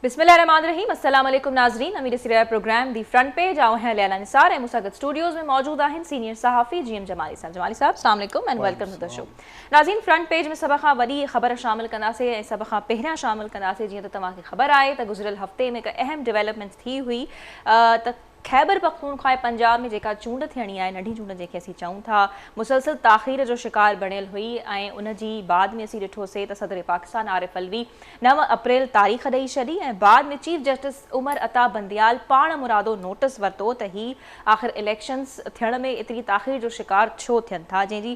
بسم الله الرحمان الرحيم السلام عليڪم ناظرين اوهين ڏسي رهيا آهيو پروگرام دي فرنٽ پيج آئون آهيان ليانا نثار ۽ مون سان گڏ اسٽوڊيوز ۾ موجود آهن سينيئر صحافي جي ايم جمالي صاحب جمالي صاحب السلام عليڪم and welcome to the show ناظرين فرنٽ پيج ۾ سڀ کان وڏي خبر شامل ڪنداسين ۽ سڀ کان پهريان شامل ڪنداسين جيئن ته توهان کي خبر آهي ته گذريل هفتي ۾ هڪ اهم ڊيولپمنٽ ٿي هئي ته خيبر پختونخوا ۽ پنجاب ۾ جيڪا چونڊ ٿيڻي آهي، ننڍي چونڊ جنهن کي اسين چئون ٿا، مسلسل تاخير جو شڪار بڻيل هئي ۽ ان جي بعد ۾ اسين ڏٺو سي ته صدر پاڪستان عارف علوي نو اپريل تاريخ ڏئي ڇڏي ۽ بعد ۾ چيف جسٽس عمر عطا بنديال پاڻ مرادو نوٽس ورتو ته هي آخر اليڪشنز ٿيڻ ۾ ايتري تاخير جو شڪار ڇو ٿين ٿا جنهن جي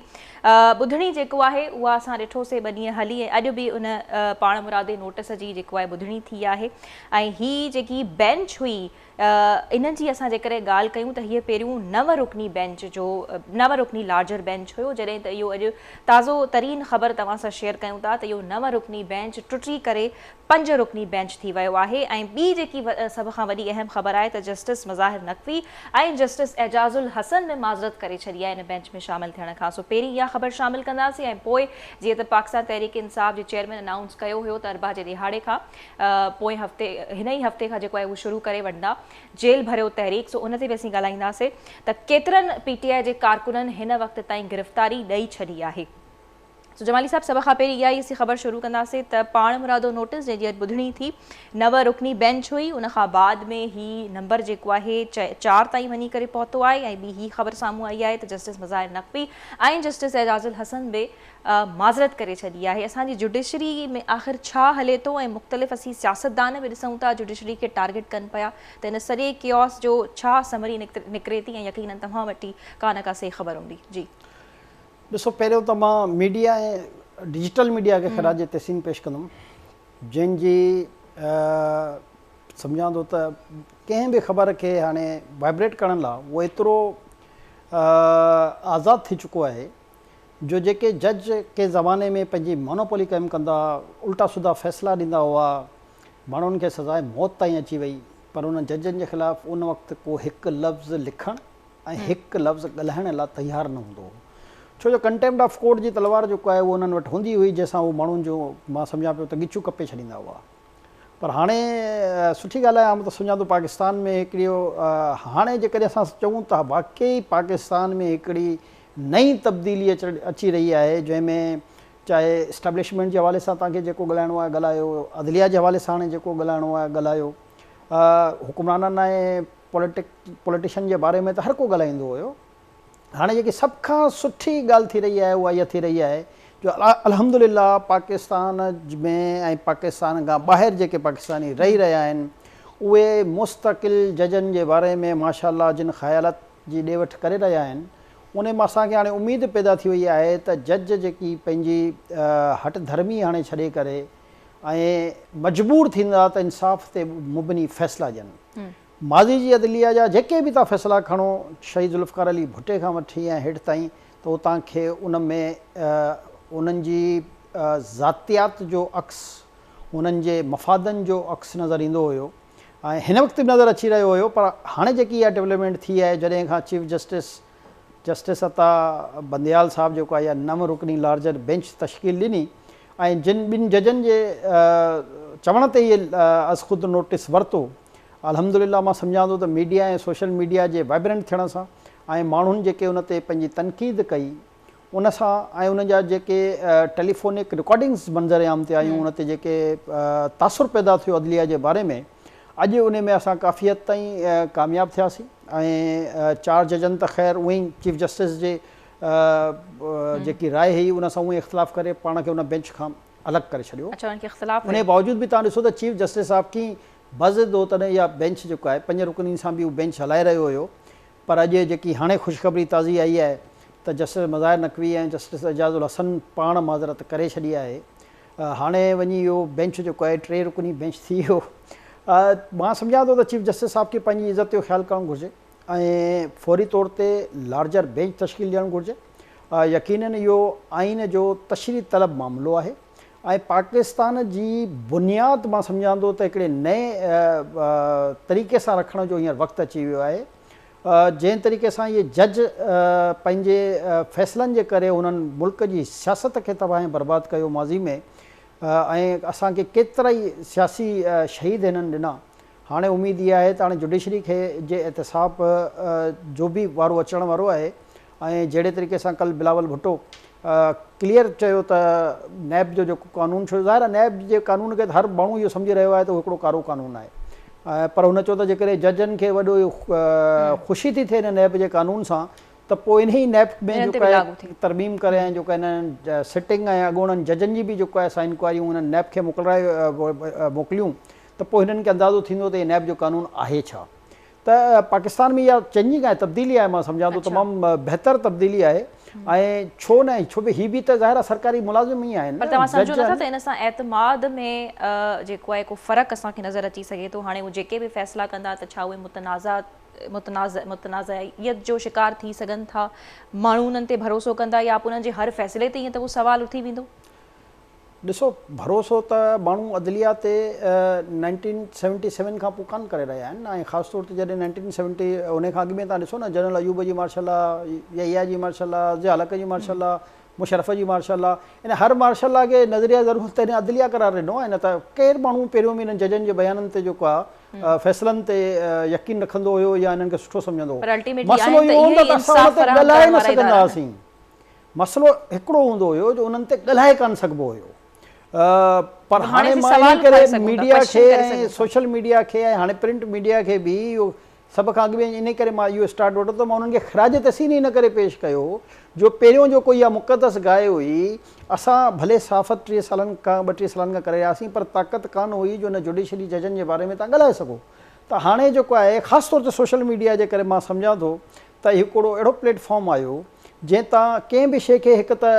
ٻڌڻي جيڪو آهي اها اسان ڏٺو سي ٻه ڏينهن هلي ۽ اڄ به ان پاڻ مرادي نوٽس جي جيڪو آهي ٻڌڻي ٿي آهي ۽ هي جيڪي بينچ هئي ان جي اسان جيڪڏهن ڳالهه ڪيون ته هيء پهريون نو رڪني بينچ جو نو رڪني لارجر بينچ هيو جڏهن ته اهو اڄ تازو ترين خبر توهان سان شيئر ڪيون ٿا ته اهو نو رڪني بينچ ٽٽي ڪري پنج رڪني بينچ ٿي ويو آهي ۽ ٻي جيڪي سڀ کان وڏي اهم خبر آهي ته جسٽس مظاهر نقوي ۽ جسٽس اعجاز الحسن به معذرت ڪري ڇڏي آهي ان بينچ ۾ شامل ٿيڻ کان سو پهرين اها خبر شامل ڪنداسين ۽ پوء جيئن ته پاڪستان تحريڪ انصاف جي چيئرمين انائونس ڪيو هيو ته اربع جي ڏهاڙي کان پوئين هفتي هن ئي هفتي کان جيڪو آهي اهو شروع ڪري وٺندا جيل ڀريو تحريڪ سو ان تي به اسين ڳالهائينداسين ته ڪيترن پي ٽي آء جي ڪارڪنن هن وقت تائين گرفتاري ڏئي ڇڏي آهي سو جمالي صاحب سڀ کان پهرين اها ئي اسين خبر شروع ڪنداسين ته پاڻ مرادو نوٽس جنهن جي اڄ ٻڌڻي ٿي نو رڪني بينچ هئي ان کان بعد ۾ هي نمبر جيڪو آهي چار تائين وڃي ڪري پهتو آهي ۽ ٻي هي خبر سامهون آئي آهي ته جسٽس مظاهر نقوي ۽ جسٽس اعجاز الحسن به معذرت ڪري ڇڏي آهي اسان جي جڊيشري ۾ آخر ڇا هلي ٿو ۽ مختلف اسين سياستدان به ڏسون ٿا جڊيشري کي ٽارگيٽ ڪن پيا ته ان سڄي ڪيئوس جو ڇا سمري نڪري ٿي ۽ يقينن توهان وٽ ئي ڪا نه ڪا سهي خبر هوندي جي. ڏسو پهريون ته مان ميڊيا ۽ ڊجيٽل ميڊيا کي خراج تحسين پيش ڪندم جن جي سمجهان ٿو ته ڪنهن به خبر کي هاڻي وائبريٽ ڪرڻ لا اهو ايترو آزاد ٿي چڪو آهي جو جيڪي جج ڪنهن زماني ۾ پنهنجي مونوپولي قائم ڪندا الٽا سڌا فيصلا ڏيندا هئا، ماڻهن کي سزاء موت تائين اچي وئي، پر انهن ججن جي خلاف ان وقت ڪو هڪ لفظ لکڻ ۽ هڪ لفظ ڳالهائڻ لا تيار نه هوندو هو، ڇو جو ڪنٽيمپٽ آف ڪورٽ جي تلوار جيڪو آهي اهو انهن وٽ هوندي هئي، جنهن سان هو ماڻهن جون مان سمجهان پيو ته ڳچيون ڪپي ڇڏيندا هئا. پر هاڻي سٺي ڳالهه آهي، آئون ته سمجهان ٿو پاڪستان ۾ هڪڙيو هاڻي جيڪڏهن اسان چئون ته واقعي پاڪستان ۾ هڪڙي نئين تبديلي اچي رهي آهي جنهن ۾ چاهي اسٽيبلشمينٽ جي حوالي سان توهان کي جيڪو ڳالهائڻو آهي ڳالهايو، عدليه جي حوالي ساڻ جيڪو ڳالهائڻو آهي ڳالهايو، حڪمرانن ۽ پوليٽيشن جي باري ۾ ته هر ڪو ڳالهائيندو هيو، هاڻي جيڪي سڀ کان سٺي ڳالهه ٿي رهي آهي اها اها ٿي رهي آهي جو الحمدلله پاڪستان ۾ ۽ پاڪستان کان ٻاهر جيڪي پاڪستاني رهي رهيا آهن اهي مستقل ججن جي باري ۾ ماشاءالله جن خيالت جي ڏي وٺ ڪري رهيا آهن انهي مان اسان کي هاڻي اميد پيدا ٿي وئي آهي ته جج جيڪي پنهنجي هٺ ڌرمي هاڻي ڇڏي ڪري ۽ مجبور ٿيندا ته انصاف تي مبني فيصلا ڏين ماضي جي عدليه جا جيڪي به تان فيصلا کڻو شهيد ذوالفقار علي ڀٽي کان وٺي ۽ هيٺ تائين ته هو تان کي ان ۾ انهن جي ذاتيات جو عڪس انهن جي مفادن جو عڪس نظر ايندو هيو ۽ هن وقت به نظر اچي رهيو هيو پر هاڻي جيڪي اها ڊولپمينٽ ٿي آهي جڏهن کان chief justice justice Ata Bandial صاحب جيڪو آهي اها نو رڪني لارجر بينچ تشڪيل ڏني ۽ جن ٻن ججن جي چوڻ تي ئي از خود نوٽس ورتو الحمدلله مان سمجهان ٿو ته ميڊيا ۽ سوشل ميڊيا جي وائبرنٽ ٿيڻ سان ۽ ماڻهن جيڪي ان تي پنهنجي تنقيد ڪئي ان سان ۽ ان جا جيڪي ٽيليفونڪ رڪارڊنگز منظر عام تي آيون ان تي جيڪي تاثر پيدا ٿيو عدليه جي باري ۾ اڄ ان ۾ اسان ڪافي حد تائين ڪامياب ٿياسين ۽ چار ججن ته خير اونئي چيف جسٽس جي جيڪي راء هئي ان سان اونئي اختلاف ڪري پاڻ کي ان بينچ کان الڳ ڪري ڇڏيو انهي باوجود به توهان ڏسو ته چيف جسٽس آف ڪين بضد هو تڏهن اها بينچ جيڪو آهي پنج رڪنين سان به اهو بينچ هلائي رهيو هيو پر اڄ جيڪي هاڻي خوشخبري تازي آئي آهي ته جسٽس مظاهر نقوي ۽ جسٽس اعجاز الحسن پاڻ معذرت ڪري ڇڏي آهي هاڻي وڃي اهو بينچ جيڪو آهي ٽي رڪني بينچ ٿي ويو مان سمجهان ٿو ته چيف جسٽس صاحب کي پنهنجي عزت جو خيال ڪرڻ گهرجي ۽ فوري طور تي لارجر بينچ تشڪيل ڏيڻ گهرجي يقينن اهو آئين جو تشريح طلب معاملو آهي. ۽ پاڪستان جي بنياد مان سمجهان ٿو ته هڪڙي نئين طريقي سان رکڻ جو هينئر وقت اچي ويو آهي جنهن طريقي سان اهي جج پنهنجي فيصلن جي ڪري انهن ملڪ جي سياست کي تباهه ۽ برباد ڪيو ماضي ۾ ۽ اسان کي ڪيترائي سياسي شهيد هنن ڏنا هاڻي اميد اها آهي ته هاڻي جڊيشري کي جي احتساب جو به وارو اچڻ وارو آهي ۽ جهڙي طريقي سان ڪل بلاول ڀٽو ڪليئر چيو ته نيب جو جيڪو قانون ڇو ظاهر آهي نيب جي قانون کي ته هر ماڻهو اهو سمجهي رهيو آهي ته اهو هڪڙو ڪارو قانون آهي پر هن چيو ته جيڪڏهن ججن کي وڏو خوشي ٿي ٿئي هن نيب جي قانون سان ته پوء انهي نيب ۾ جو ڪا ترميم ڪري ۽ جو ڪا هنن سٽنگ ۽ اڳوڻن ججن جي به جو ڪا اسان انڪوائريون هنن نيب کي موڪليون ته پوء هنن کي اندازو ٿيندو ته هي نيب جو قانون آهي ڇا ته پاڪستان ۾ اها چڱي ڪانهي تبديلي آهي مان سمجهان ٿو تمام بهتر تبديلي آهي ۽ ڇو نه ڇو به هي به ته ظاهر آهي سرڪاري ملازم ئي آهن پر توهان سمجهو نٿا ته ان سان اعتماد ۾ جيڪو آهي ڪو فرق اسان کي نظر اچي سگهي ٿو هاڻي هو جيڪي به فيصلا ڪندا ته ڇا اهي متنازع متنازع متنازعيت جو شڪار ٿي سگهن ٿا ماڻهو انهن تي ڀروسو ڪندا يا انهن جي هر فيصلي تي ائين ته ڪو سوال اٿي ويندو ڏسو ڀروسو ته ماڻهو عدليه تي نائنٽين سيونٽي سيون کان پوء ڪانه ڪري رهيا آهن ۽ خاص طور تي جڏهن نائنٽين سيونٽي ان کان اڳ ۾ توهان ڏسو نه جنرل ايوب جي مارشل لا، يحيٰ جي مارشل لا، ضياء الحق جي مارشل لا، مشرف جي مارشل لا يعني هر مارشل لا کي نظريه ضرور تڏهن عدليه قرار ڏنو ۽ نه ته ڪير ماڻهو پهريون به انهن ججن جي بيانن تي جيڪو آهي فيصلن تي يقين رکندو هيو يا انهن کي سٺو سمجهندو هو مسئلو اهو هوندو ته اسان ان تي ڳالهائي نه سگهندا هئاسين. مسئلو هڪڙو هوندو هيو جو انهن تي ڳالهائي ڪانه سگهبو هيو پر هاڻي مان انهي ڪري ميڊيا کي ۽ سوشل ميڊيا کي ۽ هاڻي پرنٽ ميڊيا کي به اهو سڀ کان اڳ ۾ انهي ڪري مان اهو اسٽارٽ وٺو ته مان انهن کي خراج تحسين ئي ان ڪري پيش ڪيو جو پهريون جيڪو اها مقدس گاء هئي اسان ڀلي صحافت ٽيهه سالن کان ٻه ٽيهه سالن کان ڪري رهياسين پر طاقت ڪانه هئي جو ان جوڊيشري ججن جي باري ۾ توهان ڳالهائي سگهو ته هاڻي جيڪو آهي خاص طور تي سوشل ميڊيا جي ڪري مان سمجهان ٿو ته هڪڙو اهڙو پليٽ فارم آيو جنهن تان ڪنهن به شيء کي هڪ ته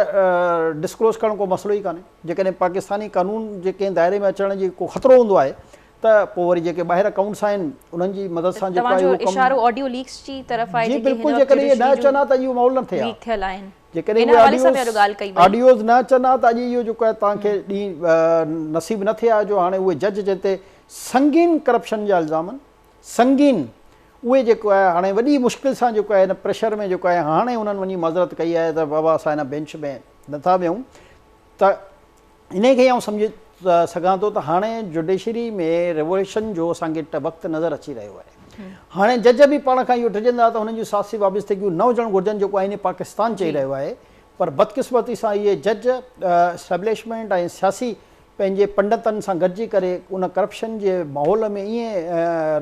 ڊسڪلوز ڪرڻ ڪو مسئلو ئي ڪانهي جيڪڏهن پاڪستاني قانون جي ڪنهن دائري ۾ اچڻ جي ڪو خطرو هوندو آهي ته پوء وري جيڪي ٻاهر اڪائونٽس آهن انهن جي مدد سان جيڪو آهي اهو ڪم جي بلڪل جيڪڏهن اهي نه اچن ها ته اڄ اهو ماحول نه ٿئي ها جيڪڏهن اهي آڊيوز نه اچن ها ته اڄ اهو جيڪو آهي توهان کي ڏينهن نصيب نه ٿئي ها جو هاڻي اهي جج جنهن تي سنگين ڪرپشن جا الزام آهن سنگين اهي جيڪو آهي هاڻي وڏي مشڪل سان جيڪو آهي ان پريشر ۾ جيڪو آهي هاڻي انهن وڃي معذرت ڪئي آهي ته بابا اسان هن بينچ ۾ نه ٿا ويهون ته انهي کي ئي آئون سمجهي سگهان ٿو ته هاڻي جوڊيشري ۾ ريوليوشن جو اسان کي وقت نظر اچي رهيو آهي هاڻي جج به پاڻ کان اهو ڊڄندا ته هنن جون سياسي وابستگيون نه هجڻ گهرجن جيڪو آئين پاڪستان چئي رهيو آهي پر بدقسمتي سان اهي جج اسٽيبلشمينٽ ۽ سياسي پنهنجي پنڊتن سان گڏجي ڪري ان ڪرپشن جي ماحول ۾ ائين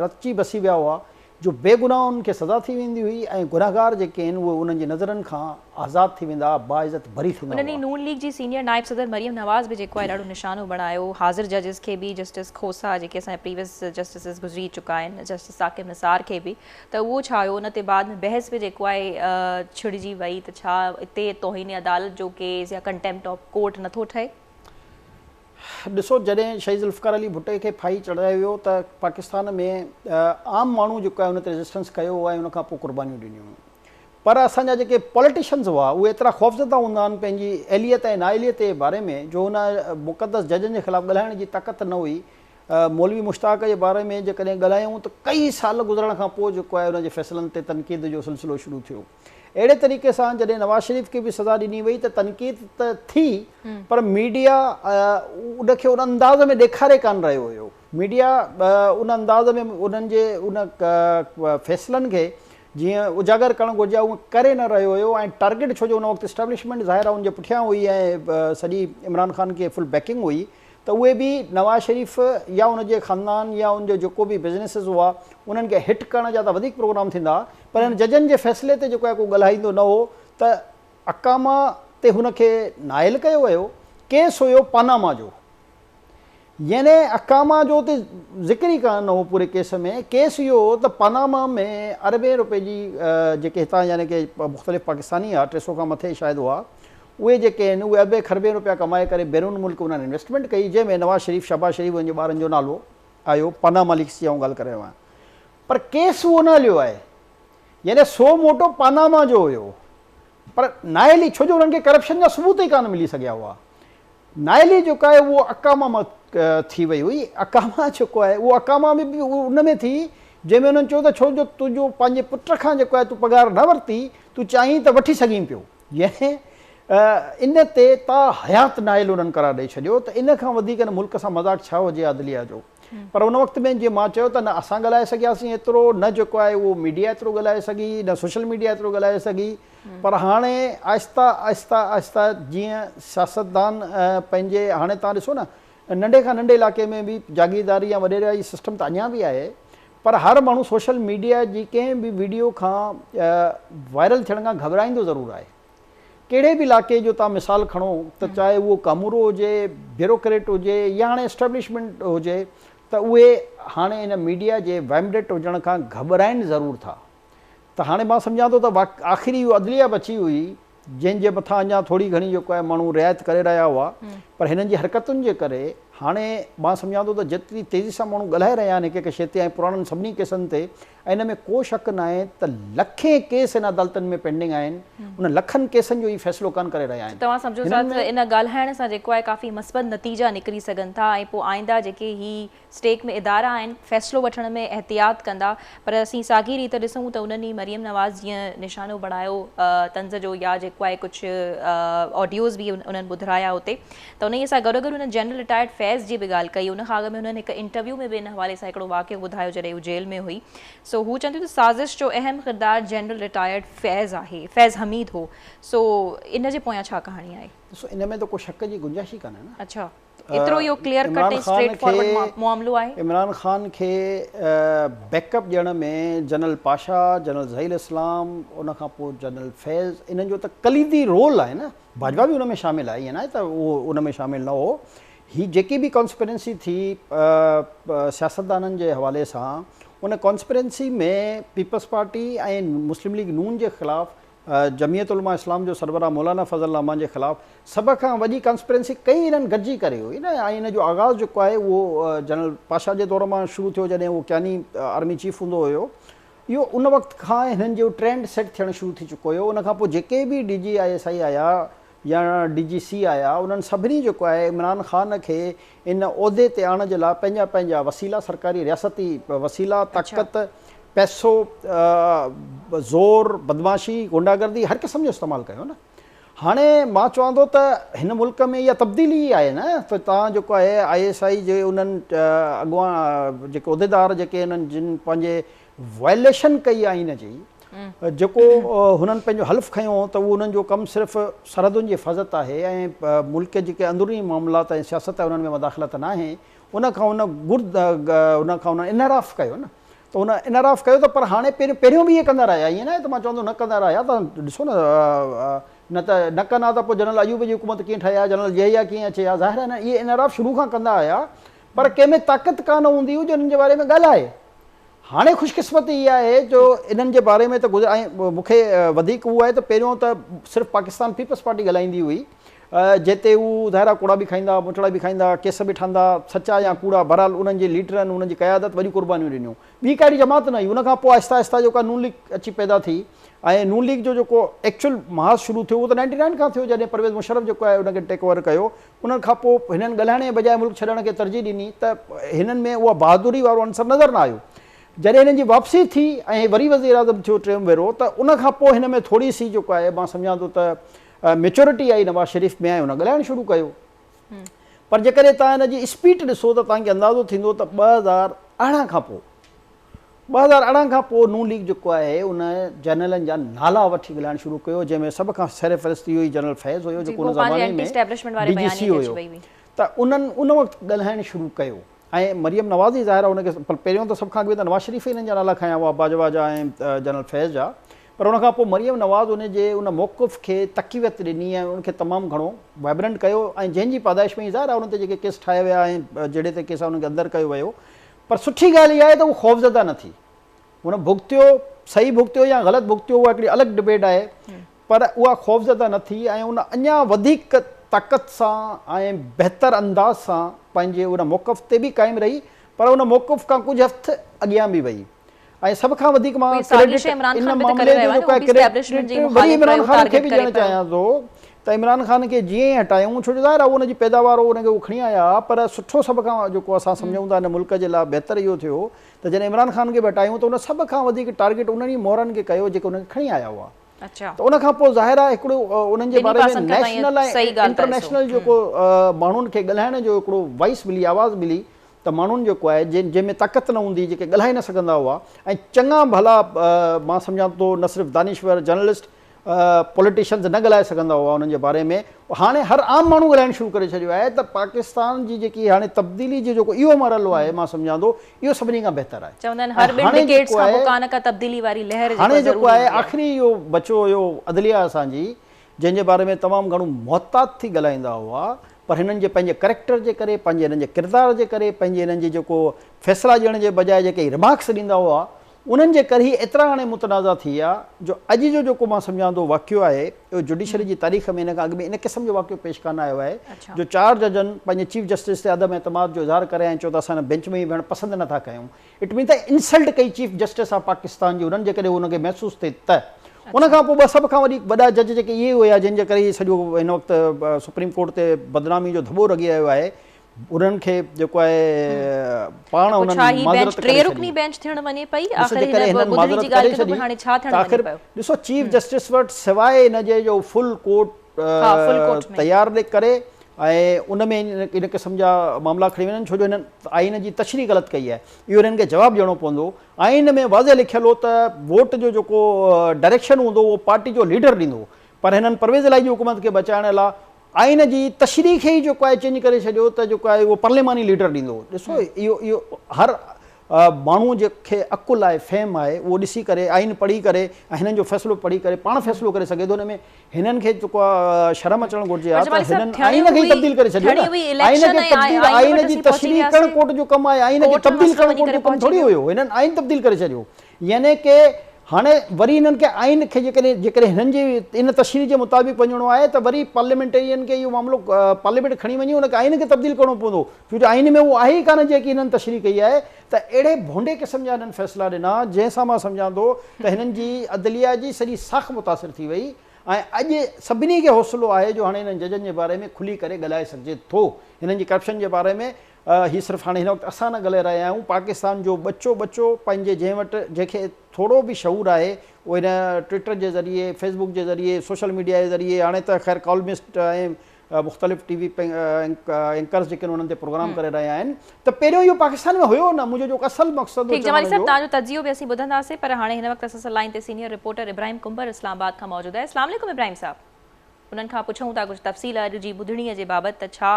رتجي بسي ويا هئا جو بي گناهن کي سزا ٿي ويندي هئي ۽ گنهگار جيڪي آهن اهي انهن جي نظرن کان آزاد ٿي ويندا باعزت بري ٿيندا انهن ئي هئا. نون ليگ جي سينيئر نائب صدر مريم نواز به جيڪو آهي ڏاڍو نشانو بڻايو حاضر ججز کي به جسٽس کوسا جيڪي اسان جا پريويس جسٽسز گذري چڪا آهن جسٽس ثاقب نثار کي به ته اهو ڇا هيو ان تي بعد ۾ بحث به جيڪو آهي ڇڙجي وئي ته ڇا اتي توهين عدالت جو ڪيس يا ڪنٽيمپٽ آف ڪورٽ نٿو ٺهي. ڏسو جڏهن شهيد ذوالفقار علي ڀٽي کي ڦاهي چڙهايو ويو ته پاڪستان ۾ عام ماڻهو جيڪو آهي ان تي ريزسٽنس ڪيو ۽ ان کان پوء قربانيون ڏنيون ويون پر اسان جا جيڪي پوليٽيشنز هئا اهي ايترا خوفزده هوندا آهن پنهنجي اهليت ۽ نااهليت جي باري ۾ جو ان مقدس ججن جي خلاف ڳالهائڻ جي طاقت نه هئي مولوي مشتاق جي باري ۾ جيڪڏهن ڳالهايون ته ڪئي سال گذرڻ کان پوء جيڪو آهي ان جي فيصلن تي تنقيد جو سلسلو شروع ٿيو. اهڙي طريقي سان جڏهن نواز شريف کي به سزا ڏني وئي ته تنقيد ته ٿي پر ميڊيا ان کي ان انداز ۾ ڏيکاري ڪانه رهيو هيو. ميڊيا ان انداز ۾ انهن جي ان فيصلن کي جيئن اجاگر ڪرڻ گهرجي ها اهو ڪري نه رهيو هيو ۽ ٽارگيٽ ڇو جو ان وقت اسٽيبلشمينٽ ظاهر آهي ان جي پٺيان هئي ۽ سڄي عمران خان کي فل بيڪنگ هئي ته اهي به نواز شريف يا ان جي خاندان يا ان جو جيڪو به بزنيسز هئا انهن کي هٽ ڪرڻ جا ته وڌيڪ پروگرام ٿيندا ها پر هن ججن جي فيصلي تي جيڪو آهي ڪو ڳالهائيندو نه هو ته اڪاما تي هن کي نااهل ڪيو ويو، ڪيس هيو پاناما جو يعني اڪاما جو ته ذڪر ئي ڪانه هو پوري ڪيس ۾، ڪيس اهو هو ته پاناما ۾ اربين رپين جي جيڪي هتان يعني ڪي مختلف پاڪستاني هئا ٽي سئو کان مٿي شايد هئا اهي جيڪي آهن اهي اربين کربين رپيا ڪمائي ڪري بيرون ملڪ انهن انويسٽمينٽ ڪئي جنهن ۾ نواز شريف شهباز شريف انهن جي ٻارن جو نالو آيو پاناما ليڪس جي آئون ڳالهه ڪري رهيو آهيان پر ڪيس اهو نه هليو آهي. يعني سو موٽو پاناما جو هيو. پر نااهلي ڇو جو انهن کي ڪرپشن جا ثبوت ئي ڪانه ملي سگهيا هئا. نااهلي جيڪو آهي اهو اقاما مان ٿي وئي هئي. اقاما جيڪو آهي اهو اقاما به ان ۾ ٿي جنهن ۾ انهن چيو ته ڇو جو تنهنجو پنهنجي پٽ کان جيڪو آهي تون پگهار نه ورتي تون چاهين ته وٺي سگهين پيو. يعني ان تي تا حيات نااهل انهن قرار ڏئي ڇڏيو ته ان کان وڌيڪ هن ملڪ سان مذاق ڇا هجي عادليه جو. پر ان وقت ۾ جيئن مان چيو ته نه اسان ڳالهائي سگهياسين ايترو نه جيڪو آهي اهو ميڊيا ايترو ڳالهائي سگهي نه سوشل ميڊيا ايترو ڳالهائي سگهي پر هاڻي آهستي آهستي آهستي جيئن سياستدان پنهنجي هاڻي توهان ڏسو نه ننڍي کان ننڍي علائقي ۾ به جاگيرداري يا وڏيرائي جي سسٽم ته اڃا به آهي پر هر ماڻهو سوشل ميڊيا جي ڪنهن به ويڊيو کان وائرل ٿيڻ کان گهٻرائيندو ضرور آهي ڪهڙي به علائقي جو توهان مثال کڻو ته چاهي اهو ڪامورو هجي، بيوروڪريٽ هجي يا هاڻي اسٽيبلشمينٽ هجي ته اهي هاڻي ان ميڊيا جي ويمڊٽ هجڻ کان گهٻرائين ضرور ٿا ته هاڻي مان سمجهان ٿو ته آخر اهو عدليه بچي هئي جنهن جي مٿان اڃا ٿوري گهڻي جيڪو آهي ماڻهو رعايت ڪري رهيا هئا پر هنن جي حرڪتن جي ڪري هاڻي مان سمجهان ٿو ته جيتري تيزي سان ماڻهو ڳالهائي رهيا آهن هڪ هڪ شيء تي ۽ پراڻن سڀني ڪيسن تي ۽ ان ۾ ڪو شڪ ناهي ته لکين ڪيس هن عدالتن ۾ پينڊنگ آهن، انهن لکن ڪيسن جو هي فيصلو ڪانه ڪري رهيا آهن. توهان سمجهو ٿا ته ان ڳالهائڻ سان جيڪو آهي ڪافي مثبت نتيجا نڪري سگهن ٿا ۽ پوء آئنده جيڪي هي اسٽيٽ ۾ ادارا آهن فيصلو وٺڻ ۾ احتياط ڪندا پر اسين ساڳي ريت ڏسون ته انهن ئي مريم نواز جيئن نشانو بڻايو طنز جو يا جيڪو آهي ڪجهه آڊيوز به انهن ٻڌرايا اتي ته انهيء سان گڏو گڏ هن جنرل رٽائرڊ فيض جي به ڳالهه ڪئي. ان کان اڳ ۾ هنن هڪ انٽرويو ۾ به ان حوالي سان هڪڙو واقعو ٻڌايو جڏهن هو جيل ۾ هئي سو هو چون ٿيون ته سازش جو اهم ڪردار جنرل رٽائرڊ فيض آهي فيض حميد هو سو ان جي پويان ڇا ڪهاڻي آهي. ڏسو ان ۾ ته ڪو شڪ جي گنجائش ئي ڪانهي نه. اڇا ايترو اهو ڪليئر ڪٽ ۽ اسٽريٽ فارورڊ معاملو آهي. عمران خان کي بيڪ اپ ڏيڻ ۾ جنرل پاشا، جنرل ظهير اسلام ان کان پوء جنرل فيض انهن جو ته ڪليدي رول آهي نه. باجوا به ان ۾ شامل آهي، ائين ناهي ته اهو ان ۾ شامل نه هو. هي جيڪي به ڪانسپرنسي ٿي سياستدانن جي حوالي سان، ان ڪانسپرنسي ۾ پيپلز پارٽي ۽ مسلم ليگ نون جي خلاف، جمعيت علماء اسلام جو سربراهه مولانا فضل الرحمان جي خلاف سڀ کان وڏي ڪانسپرنسي ڪئي انهن گڏجي ڪري هئي نه ۽ ان جو آغاز جيڪو آهي اهو جنرل پاشا جي دور مان شروع ٿيو جڏهن اهو ڪياني آرمي چيف هوندو هيو اهو ان وقت کان هنن جو ٽرينڊ سيٽ ٿيڻ شروع ٿي چڪو هيو ان کان پوء جيڪي به D G I S I آيا يا ڊي جي سي آيا انهن سڀني جيڪو آهي عمران خان کي ان عهدي تي آڻڻ جي لاء پنهنجا پنهنجا وسيلا سرڪاري رياستي وسيلا اڇا. طاقت پئسو زور بدمعاشي غنڊا گردي هر قسم جو استعمال ڪيو نه. هاڻي مان چوان ٿو ته هن ملڪ ۾ اها تبديلي ئي آهي نه ته توهان جيڪو آهي آء ايس آء جي انهن اڳواڻ جيڪي عهديدار جيڪي انهن جن پنهنجي وائليشن ڪئي آئين جي جيڪو هنن پنهنجو حلف کنيو هو ته اهو انهن جو ڪم صرف سرحدن جي حفاظت آهي ۽ ملڪ جي جيڪي اندروني معاملات ۽ سياست آهي انهن ۾ مداخلت ناهي ان کان هن گرد ان کان هنن انحراف ڪيو نه ته هن انحراف ڪيو ته پر هاڻي پهريون پهريون به اهي ڪندا رهيا ائين ناهي ته مان چوان ٿو نه ڪندا رهيا ته ڏسو نه نه ته نه ڪن ها ته پوء جنرل ايوب جي حڪومت ڪيئن ٺهي ها جنرل ضيائي ها ڪيئن اچي ها ظاهر آهي نه اهي انحراف شروع کان ڪندا آيا پر ڪنهن ۾ طاقت ڪا نه هوندي هئي جو انهن جي باري ۾ ڳالهائي هاڻي خوش قسمتي اها آهي جو انهن جي باري ۾ ته ۽ مون کي وڌيڪ اهو آهي ته پهريون ته صرف پاڪستان پيپلز پارٽي ڳالهائيندي هئي جتي هو ظاهرا ڪوڙا به کائيندا، مٺڙا به کائيندا، ڪيس به ٺهندا، سچا يا ڪوڙا، بهرحال انهن جي ليڊرن، انهن جي قيادت وڏيون قربانيون ڏنيون. ٻي ڪا اهڙي جماعت نه هئي. ان کان پوء آهستي آهستي جيڪو آهي نون ليگ اچي پيدا ٿي ۽ نون ليگ جو جيڪو ايڪچوئل محاذ شروع ٿيو اهو ته نائنٽي نائن کان ٿيو جڏهن پرويز مشرف جيڪو آهي ان کي ٽيڪ اوور ڪيو. انهن کان پوء هنن ڳالهائڻ جي بجاء ملڪ ڇڏڻ کي ترجيح ڏني ته هنن ۾ اها بهادري وارو عنصر نظر نه آيو. جڏهن هنن جي واپسي ٿي ۽ وري وزيراعظم ٿيو ٽيون ڀيرو ته ان کان پوء هن ۾ ٿوري سي جيڪو آهي مان سمجهان ٿو ته ميچورٽي آئي نواز شريف ۾ ۽ هن ڳالهائڻ شروع ڪيو پر جيڪڏهن توهان هن جي اسپيٽ ڏسو ته توهان کي اندازو ٿيندو ته ٻه هزار ارڙهن کان پوء ٻه هزار ارڙهن کان پوء نون ليگ جيڪو آهي ان جنرلن جا نالا وٺي ڳالهائڻ شروع ڪيو جنهن ۾ سڀ کان سر فهرست اهو ئي جنرل فيض هيو جيڪو ان زماني ۾ ڊي جي سي هيو ته انهن ان وقت ڳالهائڻ شروع ڪيو ۽ مريم نواز ئي ظاهر آهي ان کي پر پهريون ته سڀ کان اڳ ۾ ته نواز شريف ئي هنن جا نالا کنيا هئا باجوا جا ۽ جنرل فيض جا پر ان کان پوء مريم نواز ان جي ان موقف کي تقويت ڏني ۽ ان کي تمام گهڻو وائبرنٽ ڪيو ۽ جنهن جي پادائش ۾ ئي ظاهر آهي ان تي جيڪي ڪيس ٺاهيا ويا ۽ جهيڙي تي ڪيس آهن ان کي اندر ڪيو ويو پر سٺي ڳالهه اها آهي ته هو خوفزده نه ٿي هن ڀڳتيو صحيح ڀڳتيو يا غلط ڀڳتيو اها هڪڙي الڳ ڊبيٽ آهي پر اها خوفزده نه ٿي ۽ ان اڃا وڌيڪ طاقت سان ۽ بهتر انداز سان پنهنجي ان موقف تي به قائم رهي پر ان موقف کان ڪجهه هفت اڳيان به وئي. ۽ سڀ کان وڌيڪ مان ڪريڊٽ ان معاملي جو جيڪو آهي ڪريڊٽ وري عمران خان کي به ڏيڻ چاهيان ٿو ته عمران خان کي جيئن ئي هٽايائون ڇو جو ظاهر آهي ان جي پيداوار هو ان کي هو کڻي آيا ها پر سٺو سڀ کان جيڪو اسان سمجهون ٿا ان ملڪ جي لاء بهتر اهو ٿيو ته جڏهن عمران خان کي به هٽايائون ته ان سڀ کان وڌيڪ ٽارگيٽ انهن ئي مورن کي ڪيو جيڪي ان کي کڻي آيا هئا ته ان کان پوء ظاهر آهي هڪڙو انهن جي باري ۾ نيشنل ۽ انٽرنيشنل جيڪو ماڻهن کي ڳالهائڻ جو هڪڙو وائس ملي آواز ملي ته ماڻهن جيڪو آهي جنهن ۾ طاقت نه هوندي جيڪي ڳالهائي نه سگهندا هئا ۽ چڱا ڀلا مان سمجهان ٿو نه صرف دانشور جرنلسٽ پوليٽيشنز نه ڳالهائي سگهندا هئا انهن جي باري ۾ هاڻي هر عام ماڻهو ڳالهائڻ شروع ڪري ڇڏيو آهي ته پاڪستان جي جيڪي هاڻي تبديلي جو جيڪو اهو مرحلو آهي مان سمجهان ٿو اهو سڀني کان بهتر آهي چوندا آهن هر ٻن ڊڪيڊز کان پوء ڪا نه ڪا تبديلي واري لهر جيڪو آهي آخري اهو بچو هيو عدليه اسان جي جنهن جي باري ۾ تمام گهڻو محتاط ٿي ڳالهائيندا هئا پر هنن جي پنهنجي ڪريڪٽر جي ڪري پنهنجي هنن جي ڪردار جي ڪري پنهنجي هنن جي جيڪو فيصلا ڏيڻ جي بجاء جيڪي هي رمارڪس ڏيندا هئا انهن جي ڪري هي ايترا هاڻي متنازع ٿي ويا جو اڄ جو جيڪو مان سمجهان ٿو واقعو آهي اهو جڊيشري جي تاريخ ۾ هن کان اڳ ۾ ان قسم جو واقعو پيش ڪانه آيو آهي جو چار ججن پنهنجي چيف جسٽس تي عدم اعتماد جو اظهار ڪري ۽ چيو ته اسان هن بينچ ۾ ئي ويهڻ پسند نه ٿا ڪيون اٽ مين ته انسلٽ ڪئي چيف جسٽس آف پاڪستان جي انهن جيڪڏهن ان کي محسوس ٿئي ته. ان کان پوء ٻه سڀ کان وڏي وڏا جج جيڪي اهي ئي هيا جن جي ڪري هي سڄو هن وقت سپريم ڪورٽ تي بدنامي جو ڌٻو رڳي رهيو آهي انهن کي جيڪو آهي پاڻ انهن معذرت ڪري ڇڏي. ڇا هي بينچ ٽي رڪني بينچ ٿيڻ وڃي پئي آخر هن ٻڌڻي جي ڳالهه ڪيو ته پوء هاڻي ڇا ٿيڻ وڃي پيو. ڏسو چيف جسٽس وٽ سواء ان جي جو فل ڪورٽ تيار ڪري ۽ ان ۾ ان قسم جا معاملا کڻي وڃن ڇو جو هنن آئين جي تشريح غلط ڪئي آهي اهو هنن کي جواب ڏيڻو پوندو آئين ۾ واضح لکيل هو ته ووٽ جو جيڪو ڊائريڪشن هوندو اهو پارٽي جو ليڊر ڏيندو پر هنن پرويز الاهي جي حڪومت کي بچائڻ لا آئين جي تشريح کي ئي جيڪو آهي چينج ڪري ڇڏيو ته جيڪو آهي اهو پارليماني ليڊر ڏيندو ڏسو اهو اهو هر ماڻهو جي کي عقل آهي فهم آهي اهو ڏسي ڪري آئين پڙهي ڪري ۽ هنن جو فيصلو پڙهي ڪري پاڻ فيصلو ڪري سگهي ٿو ان ۾ هنن کي جيڪو شرم اچڻ گهرجي ها ته هنن آئين کي ئي تبديل ڪري ڇڏيو نه آئين کي تبديل آئين جي تشريح ڪرڻ ڪورٽ جو ڪم آهي آئين کي تبديل ڪرڻ ڪورٽ جو ڪم ٿوري هيو هنن آئين تبديل ڪري ڇڏيو يعني ڪي هاڻي وري هنن کي آئين کي جيڪڏهن جيڪڏهن هنن جي ان تشريح جي مطابق وڃڻو آهي ته وري پارليامينٽرين کي اهو معاملو پارليامينٽ کڻي وڃي ان کي آئين کي تبديل ڪرڻو پوندو ڇو جو آئين ۾ اهو آهي ئي ڪانه جيڪي هنن تشريح ڪئي آهي ته اهڙي ڀونڊي قسم جا هنن فيصلا ڏنا جنهن سان مان سمجهان ٿو ته هنن جي عدليه جي سڄي ساک متاثر ٿي وئي ۽ اڄ سڀني کي حوصلو آهي جو هاڻي هنن ججن جي باري ۾ کلي ڪري ڳالهائي سگهجي ٿو هنن جي ڪرپشن جي باري ۾ هي صرف هاڻي هن وقت اسان نه ڳلهي رهيا آهيون پاڪستان جو ٻچو ٻچو پنهنجي جنهن وٽ جنهن کي ٿورو به شعور آهي اهو هن ٽوئيٽر جي ذريعي فيس بوڪ جي ذريعي سوشل ميڊيا جي ذريعي هاڻي ته خير ڪالمسٽ ۽ مختلف ٽي وي اينڪرز جيڪي انهن تي پروگرام ڪري رهيا آهن ته پهريون اهو پاڪستان ۾ هيو نه منهنجو جو اصل مقصد ٺيڪ جمالي صاحب تهان جو تجزيو به اسين ٻڌنداسين پر هاڻي هن وقت اسان سان لائين تي senior reporter Ibrahim Kumbhar Islamabad کان موجود آهي اسلام عليڪم ابراهيم صاحب انهن کان پڇون ٿا ڪجهه تفصيل اڄ جي ٻڌڻي جي بابت ته ڇا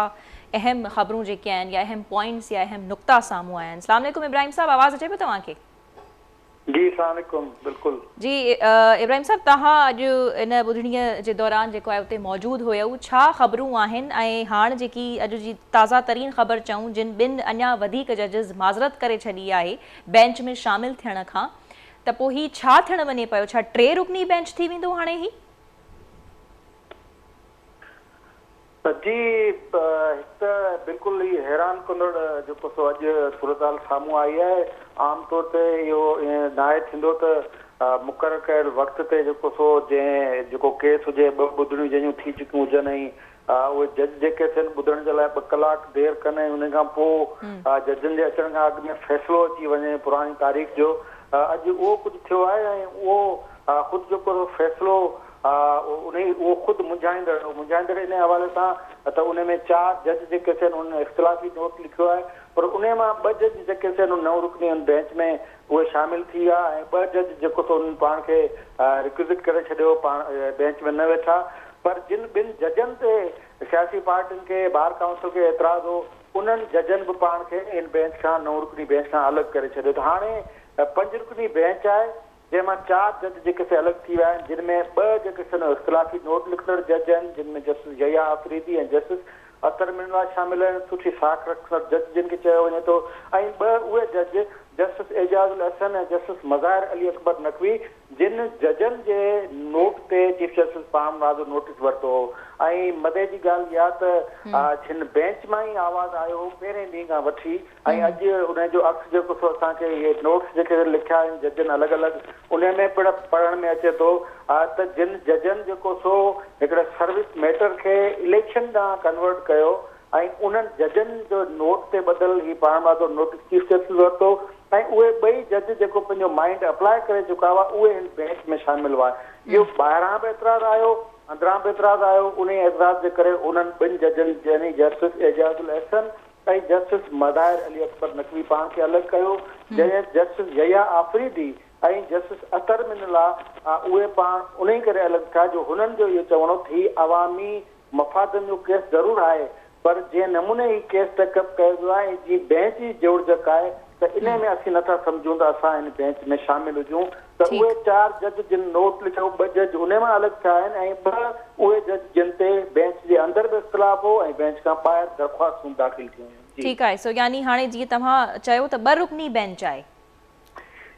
اهم خبرون جيڪي آهن يا اهم پوائنٽس يا اهم نقطا سامهون آيا آهن سلام عليڪم ابراهيم صاحب آواز اچي پيو توهان کي. جي اسلام عليڪم بلڪل. جي ابراهيم صاحب توهان اڄ ان ٻڌڻي جي دوران جيڪو آهي اتي موجود هيؤ ڇا خبرون آهن ۽ هاڻ جيڪي اڄ جي تازا ترين خبر چئون جن ٻن اڃا وڌيڪ ججز معذرت ڪري ڇڏي آهي بينچ ۾ شامل ٿيڻ کان ته پوء هي ڇا ٿيڻ وڃي پيو ڇا ٽي رڪني بينچ ٿي ويندو هاڻي هي جي هڪ ته بلڪل ئي حيران ڪندڙ جيڪو سو اڄ صورتحال سامهون آئي آهي. عام طور تي اهو ائين ناهي ٿيندو ته مقرر ڪيل وقت تي جيڪو سو جنهن جيڪو ڪيس هجي ٻه ٻڌڻيون جنهن جون ٿي چڪيون هجن ۽ ها اهي جج جيڪي ٿين ٻڌڻ جي لاء ٻه ڪلاڪ دير ڪن ۽ انهي کان پوء ها ججن جي اچڻ کان اڳ ۾ فيصلو اچي وڃي پراڻي تاريخ جو ها اڄ اهو ڪجهه ٿيو آهي ۽ اهو ها خود جيڪو سو فيصلو ها انهي اهو خود منجهائيندڙ هو منجهائيندڙ انهي حوالي سان ته انهي ۾ چار جج جيڪي ٿين انهن اختلافي نوٽ لکيو آهي پر انهي مان ٻه جج جيڪي ٿين انهن نو رڪني ان بينچ ۾ اهي شامل ٿي ويا ۽ ٻه جج جيڪو سو انهن پاڻ کي ريڪوزٽ ڪري ڇڏيو پاڻ بينچ ۾ نه ويٺا پر جن ٻن ججن تي سياسي پارٽين کي، بار ڪائونسل کي اعتراض هو، انهن ججن به پاڻ کي ان بينچ کان، نو رڪني بينچ کان الڳ ڪري ڇڏيو ته هاڻي پنج رڪني بينچ آهي، جنهن مان چار جج جيڪي سي الڳ ٿي ويا آهن، جن ۾ ٻه جيڪي سن اختلافي نوٽ لکندڙ جج آهن، جن ۾ جسٽس يحيٰ آفريدي ۽ جسٽس اطهر من الله شامل آهن، سٺي ساک رکندڙ جج جن کي چيو وڃي ٿو ۽ ٻه اهي جج جسٽس اعجاز الاحسن ۽ جسٽس مظاهر علي اڪبر نقوي جن ججن جي نوٽ تي چيف جسٽس پاڻ مناظر نوٽيس ورتو هو ۽ مزي جي ڳالهه اها ته جن بئنچ مان ئي آواز آيو هو پهرين ڏينهن کان وٺي ۽ اڄ انهي جو عڪس جيڪو سو اسان کي اهي نوٽس جيڪي لکيا آهن ججن الڳ الڳ انهي ۾ پڻ پڙهڻ ۾ اچي ٿو ته جن ججن جيڪو سو هڪڙي سروس ميٽر کي اليڪشن ڏانهن ڪنورٽ ڪيو ۽ انهن ججن جو نوٽ تي ٻڌل هي پاڻ ماڌو نوٽيس چيف جسٽس ورتو ۽ اهي ٻئي جج جيڪو پنهنجو مائينڊ اپلاء ڪري چڪا هئا اهي هن بينچ ۾ شامل هئا اهو ٻاهران به اعتراض آيو اندران به اعتراض آيو انهي اعتراض جي ڪري انهن ٻن ججن يعني جسٽس اعجاز الاحسن ۽ جسٽس مظاهر علي اڪبر نقوي پاڻ کي الڳ ڪيو جڏهن جسٽس يحيٰ آفريدي ۽ جسٽس اطهر من الله اهي پاڻ انهي ڪري الڳ ٿيا جو هنن جو اهو چوڻ هو ته هي عوامي مفادن جو ڪيس ضرور آهي پر جنهن نموني هي ڪيس ٽيڪ اپ ڪيو ويو آهي جي بئنچ جي جوڙجڪ آهي ته انهي ۾ اسين نه ٿا سمجهون ته اسان ان بئنچ ۾ شامل هجون ته اهي چار جج جن نوٽ لکيو ٻه جج انهي مان الڳ ٿيا آهن ۽ ٻه اهي جج جن تي بئنچ جي اندر به اختلاف هو ۽ بئنچ کان ٻاهر درخواستون داخل ٿيون هيون. ٺيڪ آهي سو يعني هاڻي جيئن توهان چيو ته ٻه رڪني بئنچ آهي.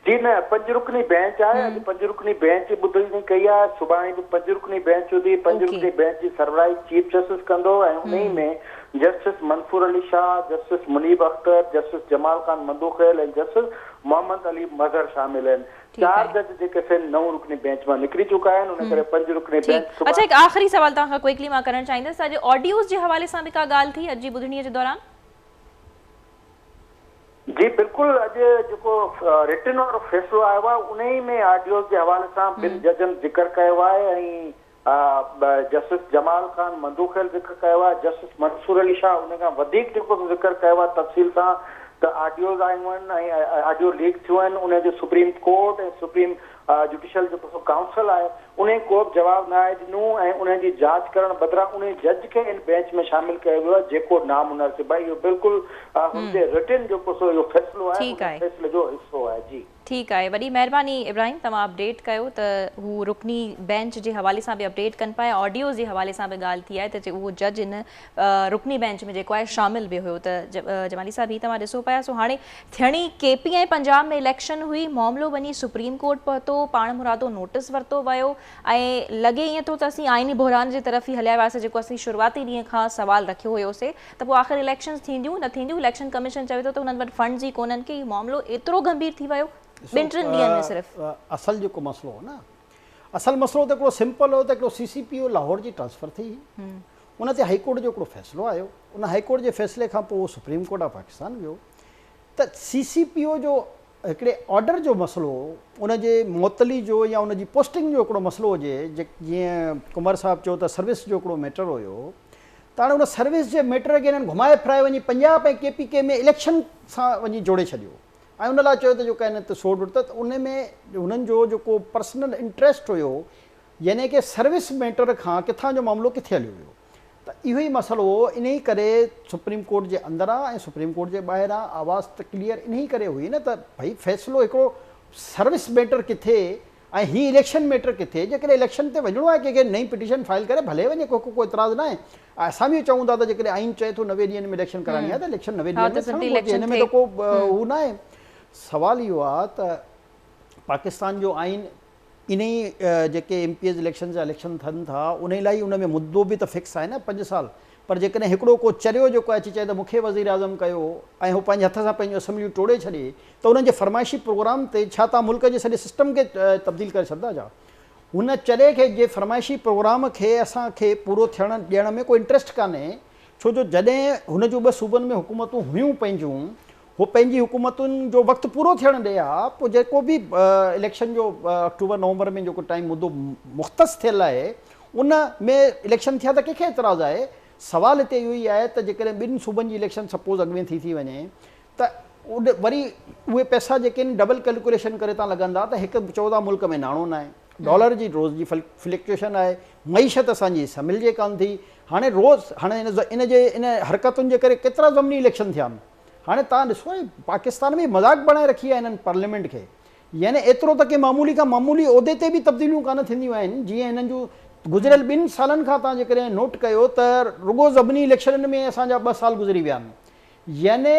جي نه، پنج رڪني بئنچ آهي، اڄ پنج رڪني بئنچ ٻڌل تائين ڪئي آهي، سڀاڻي به پنج رڪني بئنچ هوندي، پنج رڪني بئنچ جي سربراهي چيف جسٽس ڪندو ۽ انهي ۾ justice Mansoor Ali Shah, justice Munib Akhtar, justice Jamal Khan Mandokhail ۽ justice Muhammad Ali Mazhar شامل آهن، چار جج جيڪي سين نو رڪني بئنچ مان نڪري چڪا آهن، ان ڪري پنج رڪني بئنچ سڀاڻي. اڇا هڪ آخري سوال توهان کان ڪوئڪلي مان ڪرڻ چاهيندس ته اڄ آڊيوز جي حوالي سان به ڪا ڳالهه ٿي اڄ جي ٻڌڻي جي دوران؟ جي بلڪل اڄ جيڪو رٽن آرڊر فيصلو آيو آهي انهي ۾ آڊيوز جي حوالي سان ٻن ججن ذڪر ڪيو آهي ۽ جسٽس جمال خان مندوخيل ذڪر ڪيو آهي جسٽس منصور علي شاهه ان کان وڌيڪ جيڪو ذڪر ڪيو آهي تفصيل سان ته آڊيوز آيون آهن ۽ آڊيو ليڪ ٿيون آهن انهي جو سپريم ڪورٽ ۽ سپريم جوڊيشل جيڪو سو ڪائونسل آهي انهي ڪوبه جواب ناهي ڏنو ۽ انهن جي جاچ ڪرڻ بدران انهي جج کي ان بينچ ۾ شامل ڪيو ويو آهي جيڪو نامناسب آهي اهو بلڪل هن جي رٽن جيڪو سو اهو فيصلو آهي ان فيصلي جو حصو آهي جي. ٺيڪ آهي وڏي مهرباني ابراهيم توهان اپڊيٽ ڪيو ته هو رڪني بينچ جي حوالي سان به اپڊيٽ ڪن پيا آڊيوز جي حوالي سان به ڳالهه ٿي آهي ته اهو جج ان رڪني بينچ ۾ جيڪو آهي شامل به هيو ته جمالي صاحب هي توهان ڏسو پيا سو هاڻي ٿيڻي ڪي پي ۽ پنجاب ۾ اليڪشن هئي معاملو وڃي سپريم ڪورٽ پهتو پاڻ مرادو نوٽس ورتو ويو ۽ لڳي ائين ٿو ته اسين آئيني بحران جي طرف ئي هليا وياسي جيڪو اسين شروعاتي ڏينهن کان سوال رکيو هيوسي ته پوء آخر اليڪشنز ٿينديون نه ٿينديون اليڪشن ڪميشن چوي ٿو ته هنن وٽ فنڊز ئي ڪونهن ڪي هي معاملو ايترو گنڀير ٿي ويو ٻن ٽن ڏينهن ۾ صرف اصل جيڪو مسئلو هو نه اصل مسئلو ته هڪڙو سمپل هو ته هڪڙو C C P O Lahore جي ٽرانسفر ٿي هئي ان تي هائي ڪورٽ جو هڪڙو فيصلو آيو، ان هائي ڪورٽ جي فيصلي کان پوء هو سپريم ڪورٽ آف پاڪستان ويو ته سي سي پي او جو هڪڙي آرڊر جو مسئلو هو، ان جي معطلي جو يا ان جي پوسٽنگ جو هڪڙو مسئلو هجي، جيئن قمر صاحب چيو ته سروس جو هڪڙو ميٽر هيو ته هاڻي ان سروس جي ميٽر کي هنن گهمائي ڦرائي وڃي Punjab ۽ K P K ۾ election سان وڃي جوڙي ڇڏيو ۽ ان لاء چيو ته جو ڪنهن نه ته سوڙ وڙ ته ان ۾ هنن جو جيڪو پرسنل انٽريسٽ هيو يعني ڪي سروس ميٽر کان ڪٿان جو معاملو ڪٿي هليو ويو ته اهو ئي مسئلو هو انهي ڪري سپريم ڪورٽ جي اندر آ ۽ سپريم ڪورٽ جي ٻاهر آ آواز ته ڪليئر انهي ڪري هئي نه ته ڀئي فيصلو هڪڙو سروس ميٽر ڪٿي ۽ هي اليڪشن ميٽر ڪٿي جيڪڏهن اليڪشن تي وڃڻو آهي ڪنهن کي نئين پٽيشن فائل ڪري ڀلي وڃي ڪو ڪو اعتراض ناهي ۽ اسان به اهو چئون ٿا ته جيڪڏهن آئين چئي ٿو نوي ڏينهن ۾ اليڪشن ڪرائڻي آهي ته اليڪشن نوي ڏينهن ۾ ٿيڻ گهرجي ان ۾ ته ڪو هو ناهي سوال اهو آ ته پاڪستان جو آئين انهي جيڪي ايم پي ايز اليڪشن جا اليڪشن ٿين ٿا انهي لاء ان ۾ مدو به ته فڪس آهي نه پنج سال پر جيڪڏهن هڪڙو ڪو چريو جيڪو اچي چئي ته مون کي وزير اعظم ڪيو ۽ هو پنهنجي هٿ سان پنهنجون اسيمبليون ٽوڙي ڇڏي ته انهن جي فرمائشي پروگرام تي ڇا توهان ملڪ جي سڄي سسٽم کي تبديل ڪري ڇڏندا ڇا هن چري کي جي فرمائشي پروگرام کي اسان کي پورو ٿيڻ ڏيڻ ۾ ڪو انٽريسٽ ڪانهي ڇو جو جڏهن هن جون ٻه صوبن ۾ حڪومتون هيون پنهنجون هو پنهنجي حڪومتن جو وقت پورو ٿيڻ ڏئي ها، پوء جيڪو به اليڪشن جو آڪٽوبر نومبر ۾ جيڪو ٽائيم مدو مختص ٿيل آهي ان ۾ اليڪشن ٿيا ته ڪنهن کي اعتراض آهي؟ سوال هتي اهو ئي آهي ته جيڪڏهن ٻن صوبن جي اليڪشن سپوز اڳ ۾ ٿي ٿي وڃي ته وري اهي پئسا جيڪي آهن ڊبل ڪيلڪوليشن ڪري تان لڳندا ته هڪ چئو ٿا ملڪ ۾ ناڻو ناهي، ڊالر جي روز جي فلڪچوئيشن آهي، معيشت اسان جي سنڀلجي ڪانه ٿي، هاڻي روز هاڻي ان جي ان حرڪتن جي ڪري ڪيترا ضمني اليڪشن ٿيا آهن؟ هاڻي توهان ڏسو اهي پاڪستان ۾ مذاق بڻائي رکي آهي هنن پارليامينٽ کي يعني ايترو ته ڪنهن معمولي کان معمولي عهدي تي به تبديليون ڪانه ٿينديون آهن جيئن هنن جون گذريل ٻن سالن کان توهان جيڪڏهن نوٽ ڪيو ته رڳو ضمني اليڪشنن ۾ اسان جا ٻه سال گذري ويا آهن يعني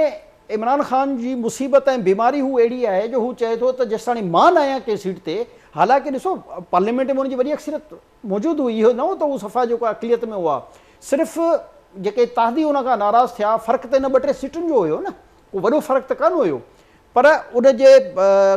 عمران خان جي مصيبت ۽ بيماري هو اهڙي آهي جو هو چئي ٿو ته جيستاڻي مان نه آهيان ڪنهن سيٽ تي حالانڪه ڏسو پارليامينٽ ۾ ان جي وڏي اڪثريت موجود هئي، اهو نه هو ته هو صفا جيڪو اقليت ۾ هئا، صرف جيڪي اتحادي ان کان ناراض ٿيا، فرق ته ان ٻه ٽي سيٽن جو هيو نه، ڪو وڏو فرق ته ڪانه هيو، پر ان جي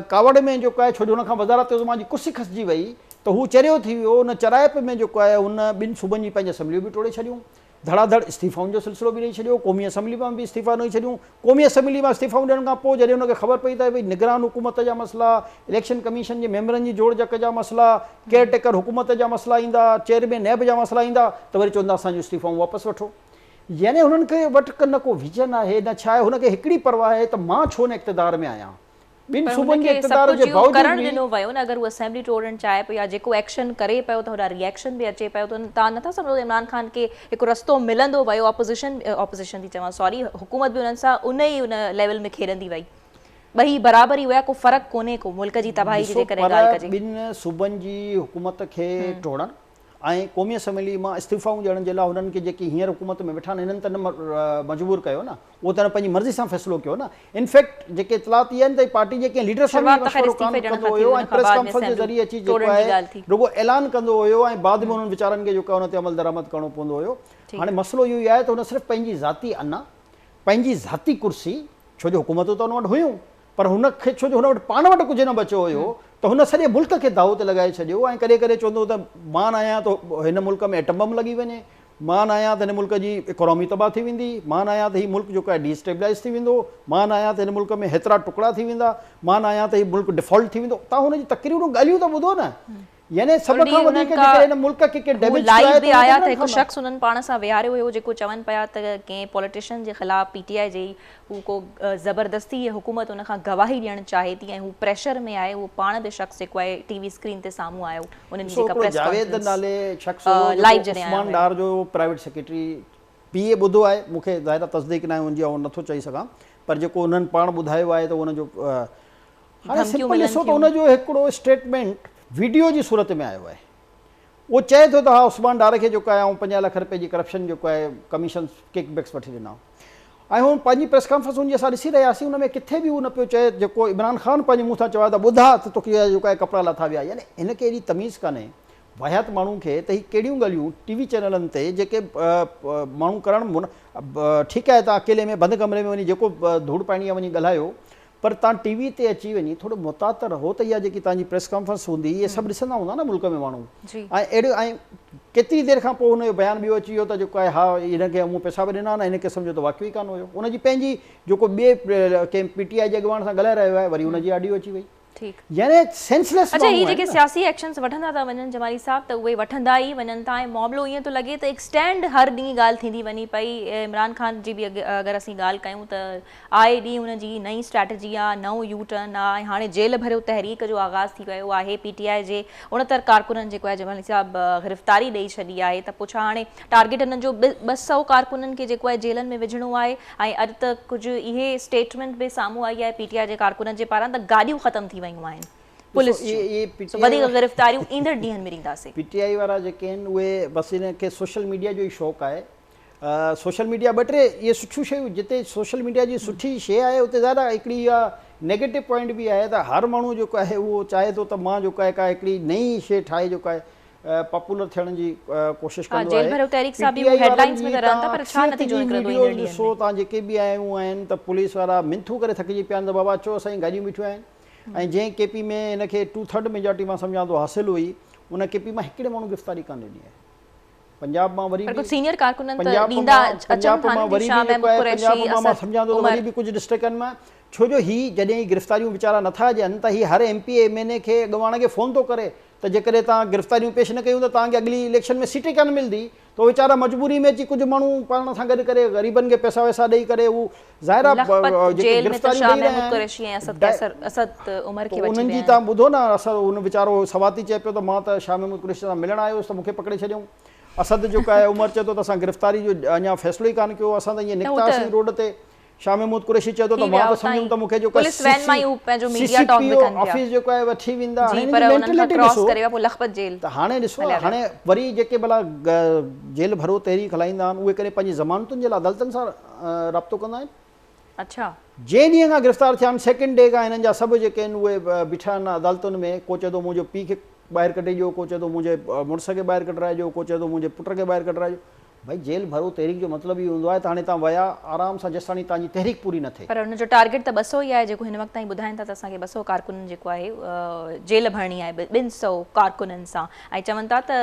ڪاوڙ ۾ جيڪو آهي ڇو جو هن کان وزارت عظميٰ جي ڪرسي کسجي وئي ته هو چريو ٿي ويو، ان چرايپ ۾ جيڪو آهي هن ٻن صوبن جي پنج اسيمبليون به ٽوڙي ڇڏيون، ڌڙا ڌڙ استعيفائن جو سلسلو به ڏئي ڇڏيو، قومي اسيمبلي مان به استعيفا ڏئي ڇڏيون، قومي اسيمبلي مان استعيفائون ڏيڻ کان پوء جڏهن ان کي خبر پئي ته نگران حڪومت جا مسئلا، اليڪشن ڪميشن جي ميمبرن جي جوڙجڪ جا مسئلا، ڪيئر ٽيڪر حڪومت جا مسئلا ايندا، چيئرمين نيب جا مسئلا ايندا ته وري چوندا اسان جون استعيفائون واپس وٺو. يعني هنن کي وٽ نه ڪو ويزن آهي نه ڇا آهي، هن کي هڪڙي پرواهه آهي ته مان ڇو نه اقتدار ۾ آهيان، ٻن صوبن جي اقتدار جي باوجود به. ڏنو ويو نه اگر هو اسيمبلي ٽوڙڻ چاهي پيو يا جيڪو ايڪشن ڪري پيو ته هوڏانهن ري ايڪشن به اچي پيو ته تان نٿا سمجهو ته عمران خان کي هڪ رستو ملندو ويو اپوزيشن اپوزيشن ٿي چوان سوري حڪومت به انهن سان ان ئي ان ليول ۾ کيڏندي وئي ٻئي برابر ئي هيا ڪو فرق ڪونهي ڪو ملڪ جي تباهي جي جيڪڏهن ڳالهه ڪجي. ٻن صوبن جي حڪومت کي ٽوڙڻ ۽ قومي اسيمبلي مان استعيفائون ڏيڻ جي لاء هنن کي جيڪي هينئر حڪومت ۾ ويٺا آهن هنن ته نه مجبور ڪيو نه اهو ته هن پنهنجي مرضي سان فيصلو ڪيو نه. ان فيڪٽ جيڪي اطلاعات اهي آهن ته هي پارٽي جي ڪنهن ليڊر سان به مشورو ڪانه ڪندو هيو ۽ پريس ڪانفرنس جي ذريعي اچي جيڪو آهي رڳو اعلان ڪندو هيو ۽ بعد ۾ انهن ويچارن کي جيڪو آهي ان تي عملدرآمد ڪرڻو پوندو هيو. هاڻي مسئلو اهو ئي آهي ته هن صرف پنهنجي ذاتي انا، پنهنجي ذاتي ڪرسي، ڇو جو حڪومتون ته هن وٽ هيون پر هن کي ڇو جو هن وٽ پاڻ وٽ ڪجهه نه بچيو هيو ته هن سڄي ملڪ کي داو تي لڳائي ڇڏيو ۽ ڪڏهن ڪڏهن چوندو هو ته مان نه آهيان ته هن ملڪ ۾ ايٽم بم لڳي وڃي. مان آهيان ته هن ملڪ جي اڪانومي تباهه ٿي ويندي، مان آهيان ته هي ملڪ جيڪو آهي ڊي اسٽيبلائيز ٿي ويندو، مان آهيان ته هن ملڪ ۾ هيترا ٽڪڙا ٿي ويندا، مان آهيان ته هي ملڪ ڊفالٽ ٿي ويندو، توهان هن جون تقريرون ڳالهيون ته ٻڌو نه. يعني سڀ کان وڌيڪ جيڪڏهن هن ملڪ کي ڪنهن ڊيميج ڪيو آهي ته اهي ڊڪرن کان نه. هو ڪو زبردستي يا حڪومت ان کان گواهي ڏيڻ چاهي ٿي ۽ هو پريشر ۾ آهي اهو پاڻ به شخص جيڪو آهي ٽي وي اسڪرين تي سامهون آيو انهن جي جيڪا پريس ڪانفرنس لائيو جڏهن آيو هو. ڊار جو پرائيويٽ سيڪريٽري پي اي ٻڌو آهي مون کي ظاهر آهي تصديق ناهي ان جي آئون نٿو چئي سگهان پر جيڪو انهن پاڻ ٻڌايو آهي ته ان جو هاڻي سمپل ڏسو ته ان جو هڪڙو اسٽيٽمينٽ ويڊيو جي صورت ۾ آيو آهي اهو چئي ٿو ته ها عثمان ڊار کي جيڪو آهي آئون پنجاهه لک رپئي جي ڪرپشن جيڪو آهي ڪميشن ڪڪ بيڪس وٺي ڏنا ۽ هو پنهنجي پريس ڪانفرنس هوندي اسان ڏسي رهيا هئاسين ان ۾ ڪٿي به اهو نه پيو چئي جيڪو عمران خان پنهنجي منهن سان چوايو ته ٻڌاء ته توکي اهي جيڪو آهي ڪپڙا لاٿا ويا يعني هن کي ايڏي تميز ڪانهي واهيات ماڻهو کي ته هي ڪهڙيون ڳالهيون ٽي وي چينلن تي جيڪي ماڻهو ڪرڻ ٺيڪ آهي ته اڪيلي ۾ بند ڪمري ۾ وڃي جيڪو ڌوڙ پائڻي آهي وڃي ڳالهايو پر تان ٽي وي تي اچي وڃي ٿورو محتاط ته رهو ته اها جيڪي تان جي پريس ڪانفرنس هوندي اهي سڀ ڏسندا هوندا نه ملڪ ۾ ماڻهو جي. ۽ اهڙيون ۽ ڪيتري دير کان پوء هن جو بيان ٻيو اچي ويو ته جيڪو آهي ها هن کي امون پئسا به ڏنا نه هن قسم جو ته واقعو ئي ڪانه هيو ان جي پنهنجي جيڪو ٻئي ڪنهن پي ٽي آئي جي اڳواڻ سان ڳالهائي رهيو آهي وري ان جي آڊيو اچي وئي ٺيڪ. يعني سينس ليس اڇا ماڻهو هي آهن جيڪي نه. سياسي ايڪشنس وٺندا ٿا وڃن جمالي صاحب ته اهي وٺندا ئي وڃن ٿا ۽ معاملو ائين ٿو لڳي ته ايڪسٽينڊ هر ڏينهن ڳالهه ٿيندي وڃي پئي عمران خان جي به اگر اسين ڳالهه ڪيون ته آء ڊي ان جي نئين اسٽريٽجي آ، نئون يو ٽرن آ ۽ هاڻي جيل ڀريو تحريڪ جو آغاز ٿي ويو آهي، پي ٽي آء جي اڻتر ڪارڪنن جيڪو آهي جمالي صاحب گرفتاري ڏئي ڇڏي آهي ته پوء ڇا هاڻي ٽارگيٽ انهن جو ٻه سؤ ڪارڪنن کي جيڪو آهي جيلن ۾ وجهڻو آهي ۽ اڄ ته ڪجهه اهي اسٽيٽمينٽ به سامهون آئي آهي پي ٽي آء جي ڪارڪنن جي پاران ته گاڏيون ختم ٿي ويون آهن پوليس جون سو وڌيڪ گرفتاريون ايندڙ ڏينهن ۾ ڏينداسين. پي ٽي آء وارا جيڪي آهن اهي بس انهن کي سوشل ميڊيا جو ئي شوق آهي. سوشل ميڊيا ٻه ٽي اهي سٺيون شيون جتي سوشل ميڊيا جي سٺي شي آهي اتي ظاهر آهي هڪڙي اها نيگيٽو پوائنٽ به آهي ته هر ماڻهو جيڪو آهي اهو چاهي ٿو ته مان جيڪو آهي ڪا هڪڙي نئي شي ٺاهي جيڪو آهي پاپولر ٿيڻ جي ڪوشش ڪندو آهي پي ٽي آئي وارن جي تان اڪثريت جي ويڊيوز ڏسو تان جيڪي به آيون آهن ته پوليس وارا منٿون ڪري ٿڪجي پيا آهن ته بابا اچو اسان جي گاڏيون بيٺيون آهن ۽ جنهن ڪي پي ۾ هن کي ٽو ٿرڊ ميجارٽي مان سمجهان ٿو حاصل هئي ان ڪي پي مان هڪڙي ماڻهو گرفتاري ڪانه ڏني آهي پنجاب مان وري به سينيئر ڪارڪنن ته ڏيندا اچن ٿا نه دشا محمود قريشي اسد عمر ڪجهه ڊسٽرڪن مان ڇو جو هي جڏهن هي گرفتاريون ويچارا نه ٿا ڏين ته هي هر M P A M N A کي اڳواڻ کي فون ٿو ڪري ته جيڪڏهن توهان گرفتاريون پيش نه ڪيون ته توهان کي اڳلي اليڪشن ۾ سيٽ ئي ڪانه ملندي ته ويچارا مجبوري ۾ اچي ڪجهه ماڻهو پاڻ سان گڏ ڪري غريبن کي پئسا وئسا ڏئي ڪري هو ظاهرا جيڪي گرفتاريون ڏئي رهيا آهن ته انهن جي تان ٻڌو نه اسد ان ويچارو سواتي چئي پيو ته مان ته شاهه محمود قريشي سان ملڻ آيو هيس ته مون کي پڪڙي ڇڏيائون اسد جيڪو آهي عمر چئي ٿو ته اسان گرفتاري جو اڃا فيصلو ئي ڪانه ڪيو اسان ته ائين نڪتاسين روڊ تي شاهه محمود قريشي چئي ٿو ته مان ته سمجهيم ته مون کي جيڪو C C P O office جيڪو آهي وٺي ويندا هاڻي انهن جي مينٽلٽي ڏسو ته هاڻي ڏسو هاڻي وري جيڪي ڀلا جيل ڀرو تحريڪ هلائيندا آهن اهي ڪڏهن پنهنجي ضمانتن جي لاء عدالتن سان رابطو ڪندا آهن. اڇا. جنهن ڏينهن کان گرفتار ٿيا آهن سيڪنڊ ڊي کان هنن جا سڀ جيڪي آهن اهي بيٺا آهن عدالتن ۾ ڪو چئي ٿو منهنجو پيء کي ٻاهر ڪڍي ڏيو ڪو چئي ٿو منهنجي مڙس کي ٻاهر ڪڍرائي ڏيو ڪو چئي ٿو منهنجي پٽ کي ٻاهر ڪڍرائي ڏيو ڀائي جيل ڀرو تحريڪ جو مطلب اهو هوندو آهي ته هاڻي توهان ويا آرام سان جيستاڻي توهان جي تحريڪ پوري نه ٿئي. پر هن جو ٽارگيٽ ته ٻه سؤ ئي آهي جيڪو هن وقت تائين ٻڌائين ٿا ته اسان کي ٻه سؤ ڪارڪنن جيڪو آهي جيل ڀرڻي آهي ٻن سؤ ڪارڪنن سان ائين چون ٿا ته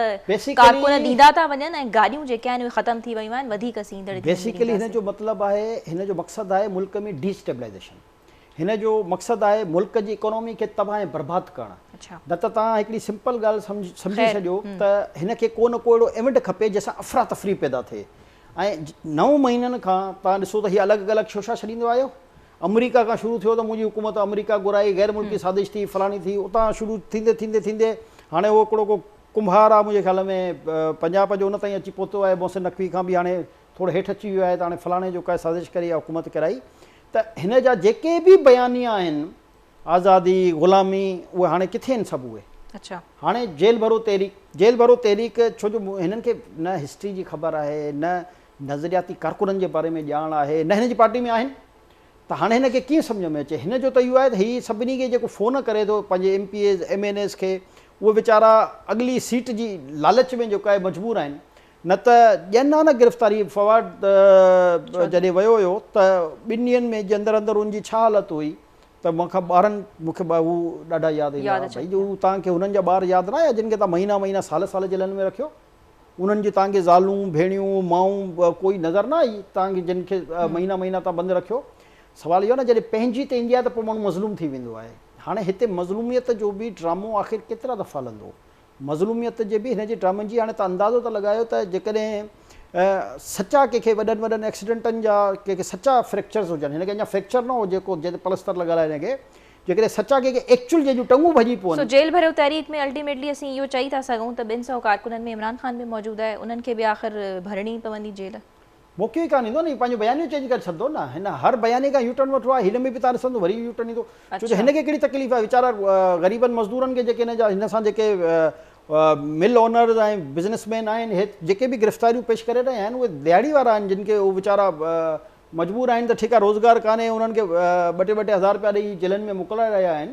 ڪارڪن ڏيندا ٿا وڃن ۽ گاڏيون جيڪي آهن اهي ختم ٿي ويون آهن وڌيڪ اسين ايندڙ ڏينهن ۾ ڏينداسين. بيسيڪلي هن جو مطلب آهي هن جو مقصد آهي ملڪ ۾ ڊي اسٽيبلائيزيشن هن جو مقصد آهي ملڪ جي اڪانومي کي تباهه ۽ برباد ڪرڻ نه ته توهان هڪڙي سمپل ڳالهه سمجهي سڄو ته هن کي ڪو نه ڪو اهڙو ايونٽ کپي جنهن سان افرا تفري پيدا ٿئي ۽ نو مهينن کان توهان ڏسو ته هي الڳ الڳ شوشا ڇڏيندو آيو آمريڪا کان شروع ٿيو ته منهنجي حڪومت آمريڪا گهرائي، غير ملڪي سازش ٿي، فلاڻي ٿي، اتان شروع ٿيندي ٿيندي ٿيندي هاڻي اهو هڪڙو ڪو ڪنڀار آ منهنجي خيال ۾ پنجاب جو ان تائين اچي پهتو آهي محسن نقوي کان به هاڻي ٿورو هيٺ اچي ويو آهي ته هاڻي فلاڻي جو ڪا سازش ڪري يا حڪومت ڪرائي ته هن جا جيڪي به بيانيا آهن آزادي غلامي اهي هاڻي ڪٿي آهن سڀ اهي هاڻي جيل ڀرو تحريڪ جيل ڀرو تحريڪ ڇو جو هنن کي نه هسٽري جي خبر آهي نه نظرياتي ڪارڪنن جي باري ۾ ڄاڻ آهي نه هن جي پارٽي ۾ آهن ته هاڻي هن کي ڪيئن سمجهه ۾ اچي هن جو ته اهو آهي ته هي سڀني کي جيڪو فون ڪري ٿو پنهنجي M P As M N As کي اهي ويچارا اڳلي سيٽ جي لالچ ۾ جيڪو آهي مجبور آهن نه ته ڏين ها نه گرفتاري فواد جڏهن ويو هيو ته ٻن ڏينهن ۾ جي اندر اندر ان جي ڇا حالت هئي ته مان کان ٻارن مون کي هو ڏاڍا ياد ايندا ها ڀئي جو تان کي هنن جا ٻار ياد نه آيا جن کي تان مهينا مهينا سال سال جيلن ۾ رکيو انهن جي تانگي زالون، ڀيڻيون، مائون ڪوئي نظر نه آئي تانگي جن کي مهينا مهينا تان بند رکيو. سوال اهو نه جڏهن پنهنجي تي ايندي آهي ته پوء ماڻهو مظلوم ٿي ويندو آهي. هاڻي هتي مظلوميت جو به ڊرامو آخر ڪيترا دفعا هلندو. مظلوميت جي به هن جي ڊرامن جي هاڻي تان اندازو ته لڳايو ته جيڪڏهن سچا ڪنهن کي وڏن وڏن ايڪسيڊنٽن جا ڪنهن کي سچا فريڪچرز هجن هن کي اڃا فريڪچر نه هو جيڪو جنهن تي پلستر لڳل آهي هن کي جيڪڏهن سچا ڪي ڪي ايڪچول جنهن جون ٽنگون ڀڄي پون. سو جيل ڀريو تحريڪ ۾ الٽيميٽلي اسين اهو چئي ٿا سگهون ته ٻن سئو ڪارڪنن ۾ عمران خان به موجود آهي انهن کي به آخر ڀرڻي ئي پوندي جيل. موقعو ئي ڪانه ايندو نه هي پنهنجو بيانيو چينج ڪري ڇڏندو نه هن هر بياني کان يوٽرن وٺو آهي هن ۾ به تان ڏسندو وري يو ٽرن ايندو ڇو جو هن کي ڪهڙي تڪليف آهي ويچارا غريبن مزدورن کي جيڪي هن جا هن سان جيڪي مل اونرز ۽ بزنس مين آهن جيڪي به گرفتاريون پيش ڪري رهيا آهن اهي دهاڙي وارا آهن جن کي هو ويچارا مجبور آهن ته ٺيڪا روزگار ڪانهي انهن کي ٻه ٽي ٻه ٽي هزار رپيا ڏئي جيلن ۾ موڪلائي رهيا آهن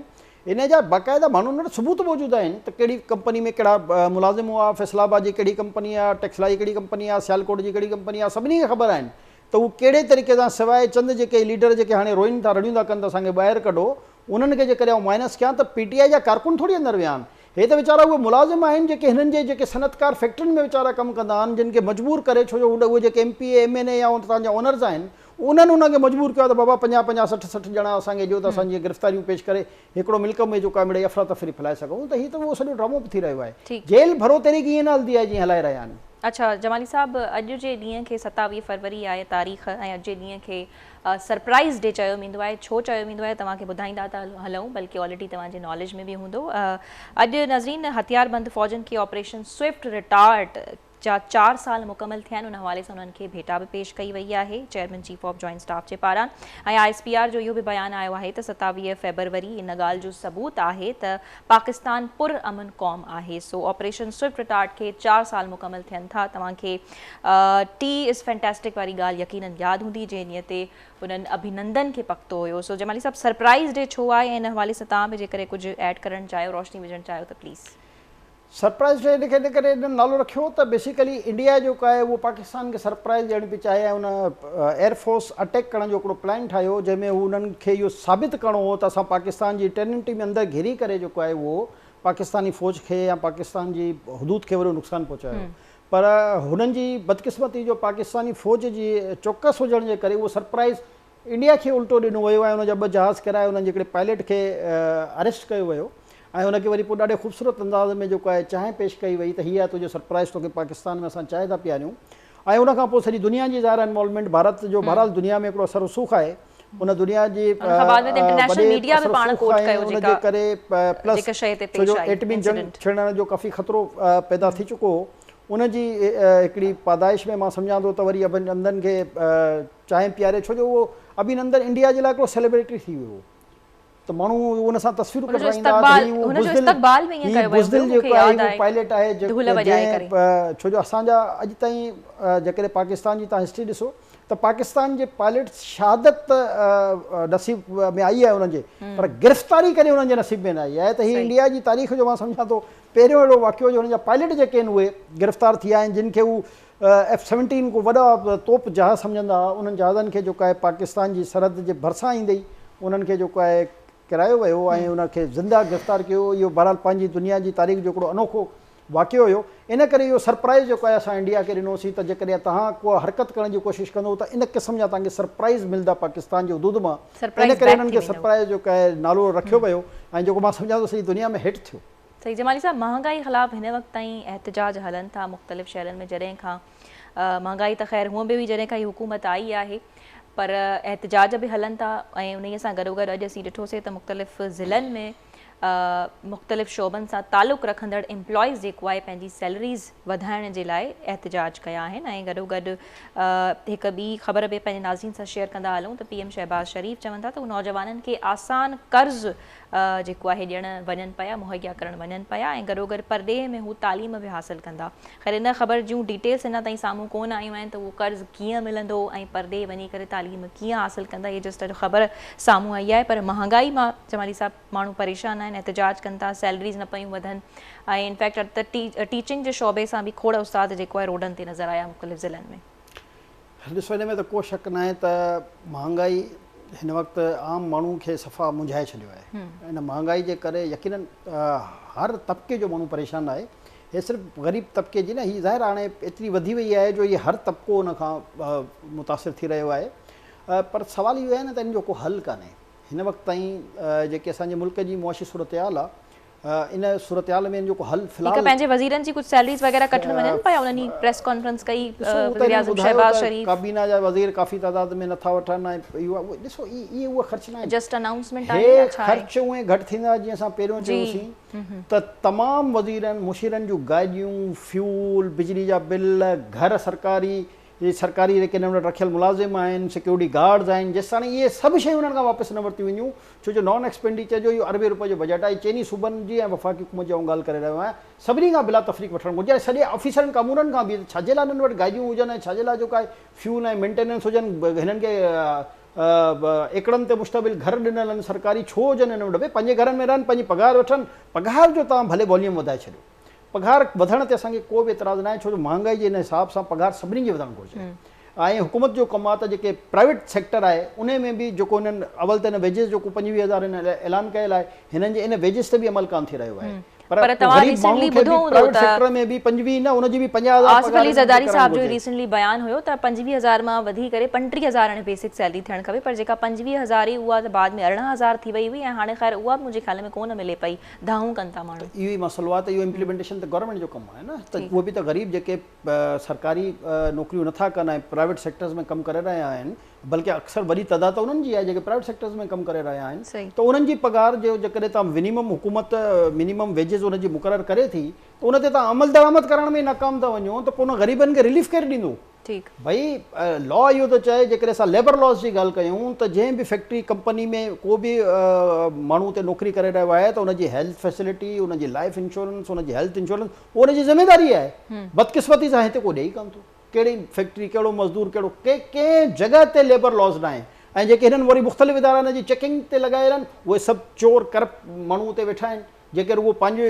انهي جا باقاعده ماڻهن وٽ ثبوت موجود آهن ته ڪهڙي ڪمپني ۾ ڪهڙا ملازم هئا فيصل آباد جي ڪهڙي ڪمپني آ ٽيڪسلا جي ڪهڙي ڪمپني آ سيالڪوٽ جي ڪهڙي ڪمپني آ سڀني کي خبر آهن ته هو ڪهڙي طريقي سان سواء چند جيڪي ليڊر جيڪي هاڻي روئين ٿا رڙيون ٿا ڪن ته اسان کي ٻاهر ڪڍو انهن کي جيڪڏهن آئون مائنس ڪيان ته پي ٽي آئي جا ڪارڪن ٿوري اندر ويا آهن هي ته ويچارا اهي ملازم آهن جيڪي هنن جي جيڪي صنعتڪار فيڪٽرين ۾ ويچارا ڪم ڪندا آهن جن کي مجبور ڪري ڇو جو هوڏ اهي جيڪي M P A M N A يا اتان جا اونرز آهن انهن انهن کي مجبور ڪيو آهي ته بابا پنجاهه پنجاهه سٺ سٺ ڄڻا اسان کي ڏيو ته اسان جيئن گرفتاريون پيش ڪري هڪڙو ملڪ ۾ جيڪو آهي مڙئي افراتفري ڦهلائي سگهون ته هي ته اهو سڄو ڊرامو به ٿي رهيو آهي جيل ڀرو تحريڪ ائين نه هلندي آهي جيئن هلائي رهيا آهن. اڇا جمالي صاحب اڄ جي ڏينهن کي ستاويهه فروري آهي تاريخ ۽ اڄ جي ڏينهن کي سرپرائيز ڊي چيو ويندو آهي، ڇو چيو ويندو آهي توهان کي ٻڌائيندا ته هلئون بلڪه آلريڊي توهان جي ناليج ۾ به هوندو. اڄ ناظرين هٿيار بند فوجن کي آپريشن سوئفٽ رٽارٽ جا چار سال مڪمل ٿيا آهن ان حوالي سان انهن کي ڀيٽا به پيش ڪئي وئي آهي chairman chief of joint staff جي پاران ۽ آء ايس پي آر جو اهو به بيان آيو آهي ته ستاويهه فيبروري ان ڳالهه جو ثبوت آهي ته پاڪستان پر امن قوم آهي سو آپريشن سوئفٽ رٽارٽ کي چار سال مڪمل ٿين ٿا توهان کي ٽي از فينٽاسٽڪ واري ڳالهه يقينن ياد هوندي جنهن ڏينهن تي انهن ابهينندن کي پڪتو هيو سو جمالي صاحب سرپرائز ڊي ڇو آهي ۽ ان حوالي سان توهان به جيڪڏهن ڪجهه ايڊ ڪرڻ چاهيو روشني وجهڻ چاهيو ته پليز سرپرائيز ٽريڊ کي ان ڪري هن نالو رکيو ته بيسيڪلي انڊيا جيڪو آهي اهو پاڪستان کي سرپرائيز ڏيڻ پئي چاهي ۽ هن ايئر فورس اٽيڪ ڪرڻ جو هڪڙو پلان ٺاهيو جنهن ۾ هو انهن کي اهو ثابت ڪرڻو هو ته اسان پاڪستان جي ٽيرنٽري ۾ اندر گهري ڪري جيڪو آهي اهو پاڪستاني فوج کي يا پاڪستان جي حدود کي وڏو نقصان پهچايو پر هنن جي بدقسمتي جو پاڪستاني فوج جي چوڪس هجڻ جي ڪري اهو سرپرائيز انڊيا کي الٽو ڏنو ويو ۽ ان جا ٻه جهاز ڪيرائي انهن جي هڪڙي پائليٽ کي اريسٽ ڪيو ويو ۽ ان کي وري پوء ڏاڍي خوبصورت انداز ۾ جيڪو آهي چانهه پيش ڪئي وئي ته هي آهي تنهنجو سرپرائز توکي پاڪستان ۾ اسان چانهه ٿا پياريون ۽ ان کان پوء سڄي دنيا جي ظاهر آهي انوالومينٽ ڀارت جو بهرحال دنيا ۾ هڪڙو اثر رسوخ آهي ان دنيا جي وڏي اثر رسوخ آهي ۽ ان جي ڪري پلس ڇو جو ايٽمي جنگ ڇڙڻ جو ڪافي خطرو پيدا ٿي چڪو هو ان جي هڪڙي پادائش ۾ مان سمجهان ٿو ته وري اڀن چندن کي چانهه پياري ڇو جو اهو ابهينندن انڊيا جي لاء هڪڙو سيلبريٽري ٿي ويو هو ته ماڻهو ان سان تصويرون ڪڍرائيندا هئا ته هي اهو بزدل هي بزدل جيڪو آهي اهو پائليٽ آهي جنهن ڇو جو اسان جا اڄ تائين جيڪڏهن پاڪستان جي تان هسٽري ڏسو ته پاڪستان جي پائليٽ شهادت ته نصيب ۾ آئي آهي انهن جي پر گرفتاري ڪڏهن انهن جي نصيب ۾ نه آئي آهي ته هي انڊيا جي تاريخ جو مان سمجهان ٿو پهريون اهڙو واقعو جو هن جا پائليٽ جيڪي آهن اهي گرفتار ٿي آهن جن کي هو ايف سيونٽين ڪو وڏا توپ جهاز سمجهندا ها، انهن جهازن کي جيڪو آهي پاڪستان جي سرحد جي ڀرسان ايندي ئي انهن کي جيڪو آهي ڪرايو ويو ۽ انهن کي زنده گرفتار ڪيو ويو، اهو بهرحال پنهنجي دنيا جي تاريخ جو هڪڙو انوکو واقعو هيو، ان ڪري اهو سرپرائز جيڪو آهي اسان انڊيا کي ڏنو سين ته جيڪڏهن توهان ڪو حرڪت ڪرڻ جي ڪوشش ڪندو ته ان قسم جا توهان کي سرپرائز ملدا پاڪستان جي حدود مان، ان ڪري انهن کي سرپرائز جيڪو آهي نالو رکيو ويو ۽ جيڪو مان سمجهان ٿو سڄي دنيا ۾ هٽ ٿيو. سيد جمالي صاحب مهانگائي خلاف هن وقت تائين احتجاج هلن ٿا مختلف شهرن ۾ جڏهن کان مهانگائي ته خير هونء به هئي جڏهن کان هي حڪومت آئي آهي پر احتجاج به هلن ٿا ۽ انهي سان گڏو گڏ اڄ اسين ڏٺوسي ته مختلف ضلعن ۾ مختلف شعبن سان تعلق رکندڙ امپلائيز جيڪو آهي پنهنجي سيلريز وڌائڻ جي لاء احتجاج ڪيا آهن ۽ گڏو گڏ هڪ ٻي خبر به پنهنجي ناظرين سان شيئر ڪندا هلون ته پي ايم شهباز شريف چون ٿا ته هو نوجوانن کي آسان قرض جيڪو آهي ڏيڻ وڃن پيا مهيا ڪرڻ وڃن پيا ۽ گڏوگڏ پرڏيهه ۾ هو تعليم به حاصل ڪندا خير ان خبر جون ڊيٽيلس اڃا تائين سامهون ڪون آيون آهن ته اهو قرض ڪيئن ملندو ۽ پرڏيهه وڃي ڪري تعليم ڪيئن حاصل ڪندا هي جسٽ اڄ خبر سامهون آئي آهي پر مهانگائي مان جمالي صاحب ماڻهو پريشان آهن احتجاج ڪن ٿا سيلريز نه پيون وڌن ۽ انفيڪٽ ٽيچنگ جي شعبي سان به کوڙ استاد جيڪو آهي روڊن تي نظر آيا مختلف ضلعن ۾ ڏسو ان ۾ ته ڪو شڪ ناهي ته مهانگائي هن وقت عام ماڻهو کي صفا مونجهائي ڇڏيو آهي ان مهانگائي جي ڪري يقينن هر طبقي جو ماڻهو پريشان آهي هي صرف غريب طبقي جي نه هي ظاهر آهي هاڻي ايتري وڌي وئي آهي جو هي هر طبقو ان کان متاثر ٿي رهيو آهي پر سوال اهو آهي نه ته ان جو ڪو حل ڪانهي هن وقت تائين جيڪي اسان جي ملڪ جي معاشي صورتحال آهي ان صورتحال ۾ جيڪو حل في الحال. هڪ پنهنجي وزيرن جي ڪجهه سيلريز وغيره ڪٽڻ وڃن پيا انهن ئي پريس ڪانفرنس ڪئي وزيراعظم شهباز شريف. ڪابينا جا وزير ڪافي تعداد ۾ نٿا وٺن ۽ ڏسو اهي اهي خرچ ناهن. جسٽ انائونسمينٽ آهي يا ڇا آهي. هي خرچ اونئي گهٽ ٿيندا جيئن اسان پهريون چيوسين ته تمام وزيرن مشيرن جون گاڏيون فيول بجلي جا بل گهر سرڪاري جي سرڪاري ريڪنن وٽ رکيل ملازم آهن، سيڪيورٽي گارڊز آهن، جيستاڻي اهي سڀ شيون انهن کان واپس نه ورتيون وينديون، ڇو جو نان ايڪسپينڊيچر جو اهو اربين روپين جو بجيٽ آهي، چئني صوبن جي ۽ وفاقي حڪومت جي آئون ڳالهه ڪري رهيو آهيان، سڀني کان بلا تفريق وٺڻ گهرجي ۽ سڄي آفيسرن ڪامورن کان به ته ڇاجي لاء انهن وٽ گاڏيون هجن ۽ ڇاجي لاء جو ڪاهي فيول ۽ مينٽيننس هجن، هنن کي ايڪڙن تي مشتمل گهر ڏنل آهن سرڪاري ڇو هجن هنن وٽ، ڀي پنهنجي گهرن ۾ رهن، پنهنجي پگهار وٺن، پگهار جو توهان ڀلي واليوم وڌائي ڇڏيو. پگهار وڌڻ تي اسان کي ڪو به اعتراض ناهي ڇو جو مهانگائي جي ان حساب سان پگهار سڀني جي وڌڻ گهرجي ۽ حڪومت جو ڪم آهي ته جيڪي پرائيويٽ سيڪٽر آهي انهي ۾ به جيڪو هنن اول ته هن ويجز جيڪو پنجويهه هزار هن اعلان ڪيل آهي هنن جي ان ويجز تي به عمل ڪانه ٿي رهيو آهي پر غريب ماڻهو کي به پرائيويٽ سيڪٽر ۾ به پنجويهه نه ان جي به پنجاهه هزار آصف علي زرداري صاحب جو ريسنٽلي بيان هيو ته پنجويهه هزار مان وڌي ڪري پنٽيهه هزار هاڻي بيسڪ سيلري ٿيڻ کپي پر جيڪا پنجويهه هزار هئي اها ته بعد ۾ ارڙهن هزار ٿي وئي هئي ۽ هاڻي خير اها به منهنجي خيال ۾ ڪونه ملي پئي دانهون ڪن ٿا ماڻهو. ته اهو ئي مسئلو آهي ته اهو امپليمينٽيشن ته گورنمينٽ جو ڪم آهي نه ته اهو به ته غريب جيڪي سرڪاري نوڪريون نه ٿا ڪن ۽ پرائيويٽ سيڪٽرز ۾ ڪم ڪري رهيا آهن بلڪه اڪثر وڏي تعداد ته انهن جي آهي جيڪي پرائيويٽ سيڪٽرز ۾ ڪم ڪري رهيا آهن ته انهن جي پگهار جو جيڪڏهن تان ونيمم حڪومت مينيمم ويجز ان جي مقرر ڪري ٿي ته ان تي تان عملدرآمد ڪرڻ ۾ ئي ناڪام ٿا وڃو ته پوء انهن غريبن کي رليف ڪير ڏيندو؟ ٺيڪ. ڀئي لا اهو ٿو چئي جيڪڏهن اسان ليبر لاز جي ڳالهه ڪيون ته جنهن به فيڪٽري ڪمپني ۾ ڪو به ماڻهو اتي نوڪري ڪري رهيو آهي ته ان جي هيلٿ فيسلٽي ان جي لائف انشورنس ان جي هيلٿ انشورنس اهو ان جي ذميواري آهي بدقسمتي سان هتي ڪو ڏئي ڪانه ٿو ڪهڙي فيڪٽري ڪهڙو مزدور ڪهڙو ڪي ڪنهن جڳهه تي ليبر لاز ناهي ۽ جيڪي هنن وري مختلف ادارا ان جي چيڪنگ تي لڳايل آهن اهي سڀ چور ڪرپٽ ماڻهو اتي ويٺا آهن جيڪي رڳو پنهنجي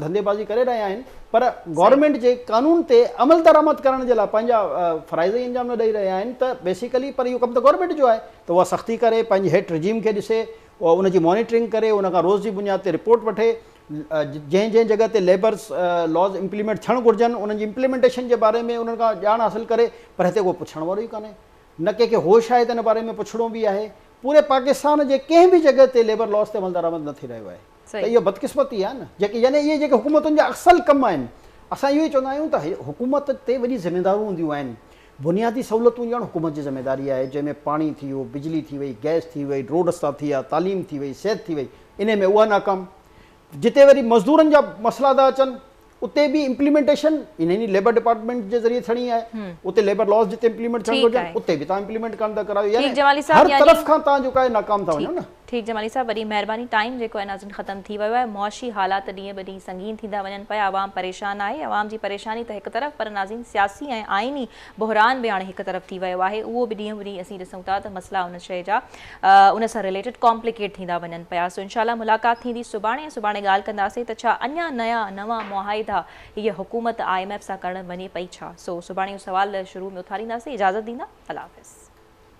ڌنڌي بازي ڪري رهيا آهن پر گورنمينٽ جي قانون تي عمل درآمد ڪرڻ جي لاء پنهنجا فرائض ئي انجام نه ڏئي رهيا آهن ته بيسيڪلي پر اهو ڪم ته گورنمينٽ جو آهي ته اها سختي ڪري پنهنجي هيٺ رجيم کي ڏسي ان جي مانيٽرنگ ڪري ان کان روز جي بنياد تي رپورٽ وٺي جنهن جنهن جڳهه تي ليبرس لاز امپليمينٽ ٿيڻ گهرجن انهن جي امپليمينٽيشن جي باري ۾ انهن کان ڄاڻ حاصل ڪري پر هتي ڪو پڇڻ وارو ئي ڪانهي نه ڪنهن کي هوش آهي ته ان باري ۾ پڇڻو به آهي پوري پاڪستان جي ڪنهن به جڳهه تي ليبر لاز تي عملدرآمد نه ٿي رهيو آهي ته اهو بدقسمتي آهي نه جيڪي يعني اهي جيڪي حڪومتن جا اصل ڪم آهن اسان اهو ئي چوندا آهيون ته حڪومت تي وڏي ذميدارون هونديون آهن بنيادي سهولتون ڏيڻ حڪومت جي ذميداري آهي جنهن ۾ پاڻي ٿي ويو بجلي ٿي وئي گئس ٿي وئي روڊ رستا ٿي ويا تعليم ٿي وئي صحت ٿي وئي انهي ۾ اها ناڪام جتي وري مزدورن جا مسئلا ٿا اچن اتي به امپليمينٽيشن انهن ئي ليبر ڊپارٽمينٽ جي ذريعي ٿيڻي آهي اتي ليبر لاز جتي امپليمينٽ ٿيڻ گهرجن اتي به تان امپليمينٽ ڪانه ٿا ڪرايو يعني هر طرف کان تان جو ڪاهي ناڪام ٿا وڃو نه. ٺيڪ جمالي صاحب وڏي مهرباني ٽائيم جيڪو آهي ناظرين ختم ٿي ويو آهي معاشي حالات ڏينهن به ڏينهن سنگين ٿيندا وڃن پيا عوام پريشان آهي عوام جي پريشاني ته هڪ طرف پر ناظرين سياسي ۽ آئيني بحران به هاڻي هڪ طرف ٿي ويو آهي اهو به ڏينهون ڏينهن اسين ڏسون ٿا ته مسئلا ان شيء جا ان سان رليٽيڊ ڪامپليڪيٽ ٿيندا وڃن پيا سو انشاء الله ملاقات ٿيندي سڀاڻي ۽ سڀاڻي ڳالهه ڪنداسين ته ڇا اڃا نيا نوان معاهدا هيء حڪومت آء ايم ايف سان ڪرڻ وڃي پئي ڇا سو سڀاڻي اهو سوال شروع ۾ اٿارينداسين اجازت ڏيندا الله حافظ.